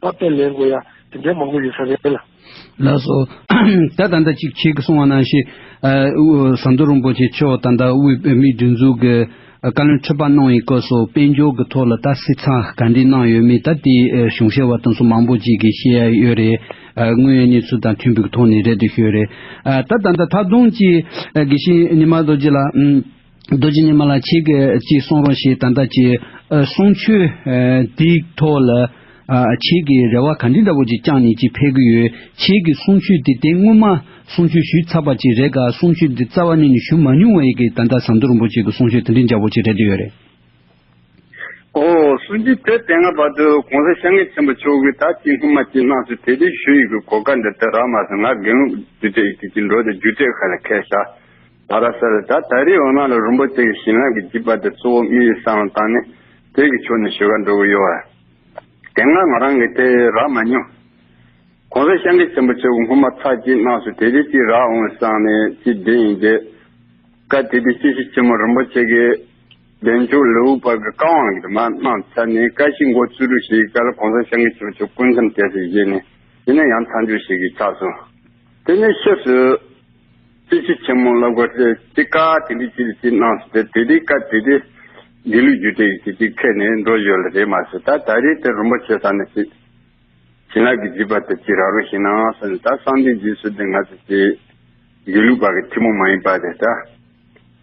པ་དཔེ་ལེན་དགོས་ཡ་དེ་འདྲའི་མང་པོ་ཡོད་ས་རེད་ལ། ལགས་སོ། ད་ད་ལྟ་ཅིག་བྱེད་ཀི་སོང་བ་ན་ཞེས། ཟམ་གདོང་རིན་པོ་ཆེ་མཆོག་ད་ལྟ་དབུས་བོད་མིའི་སྒྲིག་འཛུགས་ཀྱི་བཀའ་བློན་ཁྲི་པ་གནང་ཡི་སྐོར་སོགས་དཔལ་འབྱོར་གྱི་ཐོག་ལ་ད་སི་ཚ་ག་འདྲི་གནང་ཡོད་མེད་ད་དེའི་གཞུང་བཤད་བ་དང་སོགས་མང་པོ་ཅིག་གིས་ཤེས་ཡ་ཡོད་རེད། དངོས་ཡོད་གནས་ཚུལ་དང་མཐུན་པོའི་ཐོག་ནས་རེད་དུ་ཤོད་རེད། ད་ད་ད་ད་དུང་ཅིག་དགེ་བཤེས་ཉི་མ་རྡོ་རྗེ་ལགས། རྡོ་རྗེ་ཉི་མ་ལ་ཁྱེད་ཀྱིས་གསུང་རོགས་ཞེས་ད་ལྟ་ཀྱི་གསུང་ཆོས་འདིའི་ཐོག་ལ། ཁྱེད་ཀྱིས་རེ་བ་ག་འདྲི་འདྲ་བོ་ཅིག་བཅངས་ནས་ཅིག་ཕེབས་ཀྱི་ཡོད། ཁྱེད་ཀྱིས་གསུང་ཆོས་འདི་དེ་སྔོན་མ་གསུང་ཆོས་ཞུས་ཚར་བ་ཅིག་རེད་གཱ་གསུང་ཆོས་འདི་རྩ་བ་ནས་ནི་ཞུ་མ་མྱོང་བ་ཡིན་གི་ད་ལྟ་ཟམ་གདོང་རིན་པོ་ཆེ་གི་གསུང་ཆོས་དེ་འདྲའི་འཇའ་བོ་ཅིག་རེད་འདོད་ཡོད་རེད། ཨོ། གསུང་ཆོས་དེ་དེ་སྔ་བར་དུ་གོང་ས་ཤ་ངེ་ཆེན་པོ་མཆོག་གིས་ད་ཅི་སྔོན་མ་ཅི་སྣང་སུ་དེ་དེ་ཞུ་ཡི་གི་གོ་དཀའ་འདི་ལྟར་རག་མ་སོང་ང་དགེ་ལུགས་རྒྱུ་འབྲས་ཀྱི་ཀྱི་འགྲོ་དེ་རྒྱུ་འབྲས་ཁ་ལ་ཁད་ཤག། ད་ར་སར་ད་ད་རེས་འོ་མ་ལ་རིན་པོ་ཆེ་གི་བྱིན་རླབས་ཀྱི་བརྒྱུད་པ་དེ་གཙོ་བོ་དམིགས་ཡུལ་བསམ་བློ་བཏང་ནས་བོད་ཀྱི་ཕྱོགས་ནས་ཞུ་བ་འགྲོ་གི་ཡོད་བ། དེ་སྔ་ང་རང་གིས་དེ་རག་མ་མྱོང། གོང་ས་ཤང་ཀི་ཆེན་པོ་ཆེ་བོ་སྔོན་མ་ཚགས་ཀྱིས་གནང་སོ་དེ་རེས་ཅིག་རག་འོང་བས་སང་ནས་ཅིག་བདེ་ཡིན་དེ། སྐབས་དེ་དུས་སྐྱེ་ཤི་ཆེན་མོ་རིན་པོ་ཆེ་གི་བདེ་མཆོག་ལེའུ་པར་གྱི་བཀའ་དབང་གི་དུ་མ་གནང་ཚར་ནས་བཀའ་བཞི་མགོ་བཙུགས་རུ་ཞིག་གི་སྐལ་གོང་ས་ཤང་ཀི་ཆེན་པོ་ཆེ་བོ་སྐུ་མཚམས་གཏད་སའི་གཞི་ནས་ཡིན་ན་ཡང་མཚམས་འཇོག་ཞིག་གིས་ཆགས་སོང། དེ་ནས་ཕྱིས་སུ། རྩེ་ཕྱེད་ཆེན་མོ་བསླབ་དགོས་ཚེ་ཅི་དཀའ་དེ་འདི་ཅི་ལ་ཅི་གནང་ཟེར་ཏེ་དེ་དེ་དཀའ་དེ་དེ། དགེ་ལུགས་རྒྱུད་སྡེ་ཡིན་ཅིག་ཅིག་ཁད་ནས་འགྲོ་ཡོད་ལ་རེད་མ་ཟེར་ད་ད་རེས་དེར་རིན་པོ་ཆེ་ས་ནས་ཅིག། བྱིན་རླབས་ཀྱི་བརྗིད་པ་དེ་ཅིག་རག་རུང་ཞིག་གནང་ཟེར་ནས་ད་གསང་སྟེང་རྗེས་སུ་དེ་ང་ཚོ་ཅིག། དགེ་ལུགས་པ་གི་ཐི་མོ་མ་ཡིན་པ་དེ་ད།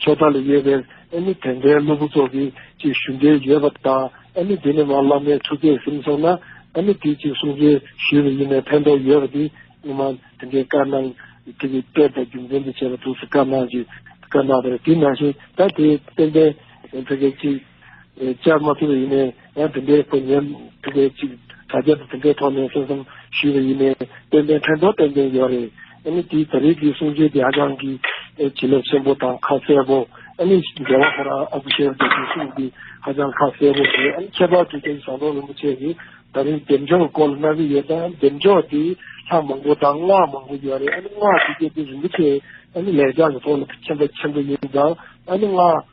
ཆོས་ཐང་ལ་ཡོད་པའི་ཨེ་མི་དེ་འདྲའི་སློབ་བུ་ཚོ་གིས་ཅིག་ཞུ་འདོད་ཡོད་པ་དང་ཨེ་མི་དེ་ནས་མར་བླ་མའི་ཐུགས་ཁས་ཟིན་སོང་ན་ཨེ་མི་དེས་ཅིག་གསུང་འཕྲིན་ཞུས་པ་ཡིན་ནའི་ཕན་ཐོགས་ཡོད་པ་དེ་སྔོན་མ་དེ་འདྲའི་བཀའ་གནང་དེ་གི་དཔེ་དང་རྒྱུ་མཚན་དུ་བྱས་པ་འདུག་སེ་བཀའ་གནང་ཅིག་བཀའ་གནང་བ་རེད་དེ་ནང་བཞིན་ད་དེ་ཏན་ཏན་ཕེ་ཁེ་ཅིག། བཅར་མ་ཐུབ་པས་ཡིན། ཡང་དེ་འདྲའི་དཔོན་ངན་དེ་འདྲས་གཅིག་དྲ་རྒྱ་དེ་འདྲའི་ཐོག་ནས་གསན་བསམ་ཞུས་པ་ཡིན། ཏན་ཏན་ཕན་ཐོགས་ཏན་ཏན་ཡོད་རེད། ཨ་ནི་དེའི་ད་རེས་ཀྱི་གསུང་ཆོས་དེ་ཧ་ཅང་གི་བྱིན་རླབས་ཆེན་པོ་དང་ཁ་གསལ་པོ། ཨ་ནི་རྒྱལ་བ་ཧོར་ཨ་བྷི་ཤེར་གྱི་གསུང་ཆོས་འདི་ཧ་ཅང་ཁ་གསལ་པོ་རེད། ཨ་ནི་ཁྱད་པར་དུ་རྒྱ་ཡི་ཟམ་གདོང་རིན་པོ་ཆེ་ནི་ད་རིང་འདེམས་སྦྱོང་སྐོར་ལ་གནང་གི་ཡོད་ཀྱང་འདེམས་སྦྱོང་དེ་ལྷ་མང་པོ་དང་སྔགས་མང་པོ་ཡོད་རེད། ཨ་ནི་སྔགས་དེ་བརྒྱད་དེ་རིན་པོ་ཆེ་ཨ་ནི་ལེགས་སྦྱར་གྱི་ཐོག་ལ་མཁྱེན་པ་ཆེན་པོ་ཡིན་ཀྱང་ཨ་ནི་སྔགས།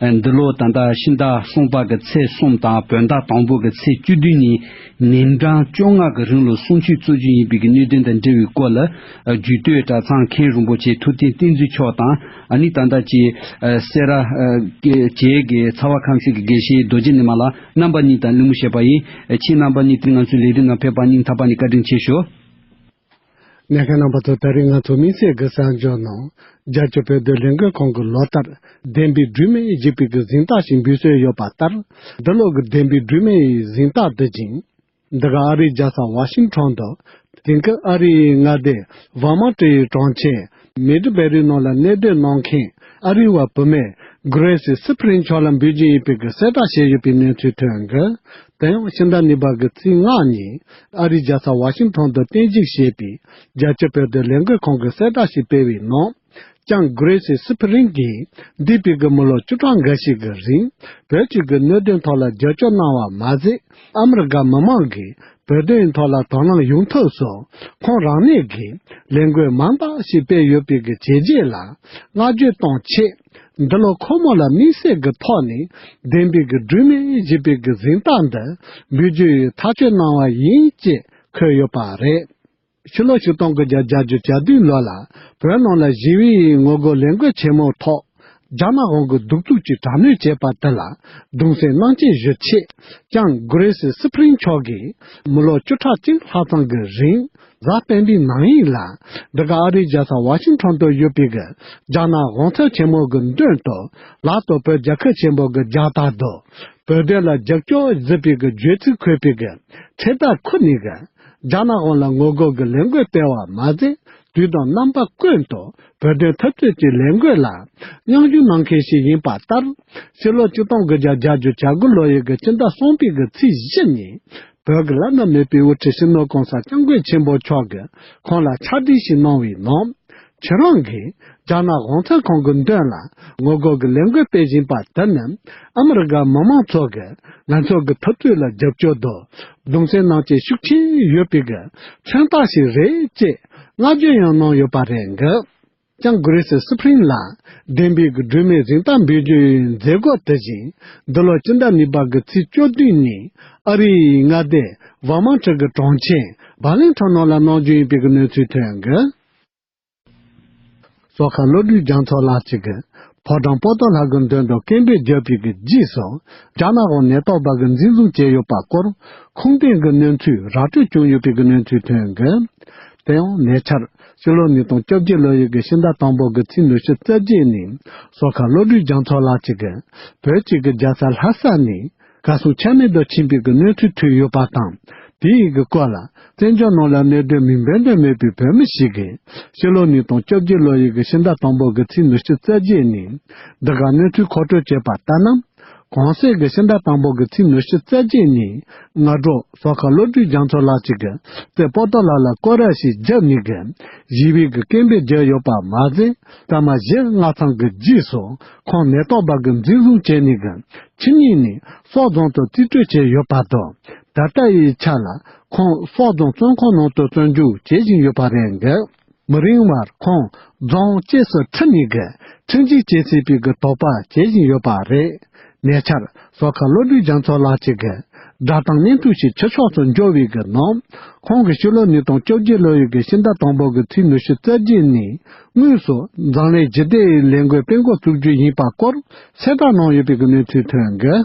འདི་ལོ་ད་ལྟ་ཕྱི་ཟླ་གསུམ་པ་གི་ཚེས་གསུམ་དང་བོད་ཟླ་དང་པོ་གི་ཚེས་བཅུ་བདུན་གཉིས་ཉིན་གྲངས་བཅོ་ལྔ་གི་རིང་ལོ་སྲུང་ཆོས་གཙོ་རྒྱུ་ཡིན་པའི་གི་གནད་དོན་དང་འབྲེལ་བའི་སྐོར་ལ་རྒྱུད་སྟོད་གྲྭ་ཚང་མཁན་རིན་པོ་ཆེ་ཐུབ་བསྟན་བསྟན་འཛིན་མཆོག་དང་ནི་ད་ལྟ་ཀྱི་སེ་ར་བཅས་ཀྱི་ཚ་བ་ཁམས་གསེར་གྱི་དགེ་བཤེས་རྡོ་རྗེ་ནི་མ་ལ་རྣམ་པ་གཉིས་དང་གླིང་མོ་བཤད་པ་ཡིན་ཕྱིན་རྣམ་པ་གཉིས་དེ་ང་ཚོའི་ལས་དོན་ནང་ཕེབས་པར་སྙིང་ཐག་པ་ནས་བཀའ་དྲིན་ཆེ་ཞུ། གནད་འཁེལ་རྣམ་པ་ཚོ་ད་རེས་ང་ཚོ་དམིགས་བསལ་གྱི་གསར་འགྱུར་ནང་རྒྱལ་སྤྱིའི་བོད་དོན་ལས་འགུལ་ཁང་གི་ལོ་ལྟར་བདེན་པའི་སྒྲོན་མེ་བཞི་པའི་གི་གཟེངས་རྟགས་ཤིག་འབུལ་སྲོལ་ཡོད་པ་ལྟར་འདི་ལོ་གི་བདེན་པའི་སྒྲོན་མེ་ཡི་གཟེངས་རྟགས་འདི་བྱིན། འདི་ག་ཨ་རིའི་རྒྱལ་ས་ཝ་ཤིང་ཁྲོན་དུ་དེང་སྐབས་ཨ་རིའི་མངའ་སྡེ་བྷར་མ་ཀྲི་ཡི་གྲོང་ཁྱེར་མེ་དྲི་བའི་རིགས་རྣམས་ལ་གནས་སྡོད་གནང་མཁན་ཨ་རིའི་བ་བུ་མེ་གྷི་རེ་སི་སི་ཕི་རེན་མཆོག་ལ་འབུལ་རྒྱུ་ཡིན་པའི་གསལ་བསྒྲགས་བྱས་ཡོད་པའི་གནས་ཚུལ་ཐོན། དེ་ཡང་ཕྱི་ཟླ་གཉིས་པ་གི་ཚེས་ལྔ་ཉིན་ཨ་རིའི་རྒྱལ་ས་བྷ་ཤིང་ཐོན་དུ་རྟེན་གཞིགས་བྱས་པའི་རྒྱལ་སྤྱིའི་དཔལ་དུས་ལས་འགུལ་ཁང་གིས་གསལ་བསྒྲགས་ཤིག་སྤེལ་བའི་ནང་ཀྱང་གྷི་རེ་སི་སི་ཕི་རེན་གྱིས་འདས་པའི་གི་མི་ལོ་བཅུ་གྲངས་འགའ་ཞིག་གི་རིང་བོད་ཕྱི་གི་གནད་དོན་ཐོག་ལ་རྒྱབ་སྐྱོར་གནང་བ་མ་ཟད། ཨ་མི་རི་ཀ་མི་མང་གིས་བོད་དོན་ཐོག་ལ་དོ་སྣང་ཡོང་ཐབས་སུ་ཁོང་རང་ནས་ཀྱི་ལས་འགུལ་མང་དག་ཞིག་སྤེལ་ཡོད་པའི་གི་བྱས་རྗེས་ལ་བསྔགས་བརྗོད་གཏོང་ཆེད། འདི་ལོ་ཁོ་མོ་ལ་དམིགས་བསལ་གྱི་ཐོག་ནས་བདེན་པའི་གི་སྒྲོན་མེ་བཞི་པའི་གི་གཟེངས་རྟགས་འདི་འབུལ་རྒྱུའི་ཐག་གཅོད་གནང་བ་ཡིན་ཅེས་འཁོད་ཡོད་པ་རེད། ཕྱི་ལོ་ཆིག་སྟོང་གི་བརྒྱད་བརྒྱ་བརྒྱུད་བརྒྱ་དུས་ལོ་ལ་བོད་ནང་ལ་ཞི་བའི་ངོ་རྒོལ་ལས་འགུལ་ཆེན་མོའི་ཐོག་རྒྱ་ནག་དབང་གིས་གདུག་རྩུབ་ཀྱིས་དྲག་གནོན་བྱས་པ་དེ་ལ་གདུང་སེམས་གནང་སྐྱེལ་ཞུ་ཆེད་ཀྱང་གུ་རེ་སི་སི་ཕིན་མཆོག་གིས་མི་ལོ་བཅུ་ཕྲག་གཅིག་ལྷག་ཙམ་གྱི་རིང་གཟའ་སྤེན་པའི་ནང་ཡིག་ལ་འདི་ག་ཨ་རིའི་རྒྱལ་ས་བྷ་ཤིང་ཐོན་དུ་ཡོད་པའི་གི་རྒྱ་ནག་དབང་ཚད་ཆེན་མོ་གི་མདུན་དུ་ལ་དོ་བོད་རྒྱལ་ཁབ་ཆེན་པོ་གི་རྒྱ་དར་དུ་བོད་དོན་ལ་རྒྱབ་སྐྱོར་བཟི་པའི་གི་བརྗོད་ཚིག་འཁོད་པའི་གི་ཚེ་དར་ཁུར་ནས་གི་རྒྱ་ནག་དབང་ལ་ངོ་རྒོལ་གྱི་ལས་འགུལ་སྤེལ་བར་མ་ཟད་དུས་དང་རྣམ་པ་ཀུན་ཏུ་བོད་དོན་འཐབ་རྩོད་ཀྱི་ལས་འགུལ་ལ་མཉམ་ཞུགས་གནང་མཁན་ཞིག་ཡིན་པ་ལྟར། ཕྱི་ལོ་བཅུ་སྟོང་དགུ་བརྒྱ་གྱ་བཅུ་བྱ་དགུ་ལོ་ཡི་གི་སྤྱི་ཟླ་གསུམ་པའི་གི་ཚེས་བཞི་ཉིན་བོད་ཀྱི་བླ་ན་མེད་པའི་དབུ་ཁྲིད་སྲིང་མོ་གོང་ས་སྐྱབས་མགོན་ཆེན་པོ་མཆོག་གིས་ཁོང་ལ་ཕྱག་བྲིས་ཤིག་གནང་བའི་ནང། ཁྱེད་རང་གིས་རྒྱ་ནག་གུང་ཁྲན་ཁང་གི་མདུན་ལ་ངོ་རྒོལ་གྱི་ལས་འགུལ་སྤེལ་བཞིན་པ་དེ་ནི་ཨ་མི་རི་ཀ་མི་མང་ཚོགས་ཀྱིས་ང་ཚོ་གི་ཐུབ་ཚོད་ལ་རྒྱབ་སྐྱོར་དོ་བརྡུང་སེམས་ནང་བཅས་ཤུགས་ཆེན་ཡོད་པའི་གི་མཚོན་རྟགས་ཤིག་རེད་ཅེས་བསྔགས་བརྗོད་ཡང་གནང་ཡོད་པ་རེད་འགི། ཀྱང Grace Spring ལ་བདེན་པའི་གི་སྒྲོན་མེ་གཟེངས་རྟགས་འབུལ་རྒྱུའི་མཛད་སྒོ་དེ་བཞིན་འདི་ལོ་སྤྱི་ཟླ་གཉིས་པ་གི་ཚེས་བཅུ་བདུན་ཉིན་ཨ་རིའི་མངའ་སྡེ Vermont གི་གྲོང་ཁྱེར Burlington ནང་ལ་གནང་རྒྱུ་ཡིན་པའི་གི་གནས་ཚུལ་ཐོན་འགི། སོག་ཁ་བློ་གྲོས་རྒྱ་མཚོ་ལགས་གཅིག་གིས། ཕོ་བྲང་སྤོ་ཏོ་ལགས་ཀྱི་མདུན་དུ་སྐད་འབོད་རྒྱག་པའི་གི་རྗེས་སུ། རྒྱ་ནག་གི་ནད་ཐོག་བར་གྱི་འཛིན་བཟུང་བྱས་ཡོད་པ་སྐོར། ཁུངས་ལྡན་གྱི་གནས་ཚུལ་ར་སྤྲོད་བྱུང་ཡོད་པའི་གི་གནས་ཚུལ་ཐོན་གི། དེ་ཡང་ཉེ་ཆར། ཕྱི་ལོ་ཉིས་སྟོང་བཅོ་བརྒྱད་ལོ་ཡི་གི་ཕྱི་ཟླ་དང་པོ་གི་ཚེས་ཉི་ཤུ་རྩ་བརྒྱད་ནས། སོག་ཁ་བློ་གྲོས་རྒྱ་མཚོ་ལགས་གཅིག་གིས། བོད་གཅིག་གི་རྒྱལ་ས་ལྷ་ས་ནས། བཀའ་སྲུང་ཆ་མེད་དུ་ཕྱིན་པའི་གི་གནས་ཚུལ་ཐོས་ཡོད་པ་དང། དེ་ཡི་གི་སྐོར་ལ་བཙན་བྱོལ་ནང་ལ་གནད་དོན་མིང་འབོད་འདོད་མེད་པའི་བོད་མི་ཞིག་གིས་ཕྱི་ལོ་ཉིས་སྟོང་བཅོ་བརྒྱད་ལོ་ཡི་གི་ཕྱི་ཟླ་དང་པོ་གི་ཚེས་ཉི་ཤུ་རྩ་བརྒྱད་ནས་འདི་ག་གནས་ཚུལ་མཁོ་སྤྲོད་བྱས་པ་ལྟར་ན། གོང་གསལ་གི་ཕྱི་ཟླ་དང་པོ་གི་ཚེས་ཉི་ཤུ་རྩ་བརྒྱད་ཉིན་སྔ་དྲོ་ཟོག་ཁ་བློ་གྲོས་རྒྱ་མཚོ་ལགས་ཀྱིས་གི་རྩེ་སྤོ་ཏོ་ལགས་ལ་སྐོར་ར་ཞིག་བརྒྱབ་ནས་གི་གཞིས་པའི་གི་སྐད་འབོད་བརྒྱབ་ཡོད་པ་མ་ཟད། ཟ་མ་བཞི་ལྔ་ཚང་གི་རྗེས་སུ་ཁོང་མེ་ཏོག་འབར་གྱི་འཛིན་བཟུང་བྱས་ནས་གི་ཕྱི་ཉིན་ནས་སོག་རྫོང་དུ་རྩིས་སྤྲོད་བྱས་ཡོད་པ་དང་ད་ལྟ་ཡི་ཆ་ལ་ཁོང་སོག་རྫོང་བཙོན་ཁང་ནང་དུ་བཙོན་འཇུག་བྱེད་བཞིན་ཡོད་པ་རེད་གི་མི་རིང་བར་ཁོང་རྫོང་བཅས་སུ་ཁྲིད་ནས་གི་ཁྲིམས་གཅོད་བྱེད་སྲིད་པའི་གི་དོགས་པ་བྱེད་བཞིན་ཡོད་པ་རེད། ཉེ་ཆར་ཟོག་ཁ་བློ་གྲོས་རྒྱ་མཚོ་ལགས་ཀྱིས་གི་སྒྲ་གདངས་སྙན་ཐོའི་ཞིག་ཕྱི་ཕྱོགས་སུ་འབྱོར་བའི་གི་ནང་ཁོང་གི་ཕྱི་ལོ་ཉིས་སྟོང་བཅོ་བརྒྱད་ལོའི་གི་ཕྱི་ཟླ་དང་པོ་གི་ཚེས་ཉི་ཤུ་རྩ་བརྒྱད་ནས་དངོས་སུ་མཛངས་ལས་བརྗེ་སྟེ་ལས་འགུལ་སྤེལ་འགོ་བཙུགས་རྒྱུ་ཡིན་པ་སྐོར་གསལ་བསྒྲགས་གནང་ཡོད་པའི་གནས་ཚུལ་ཐོན་ཡོད།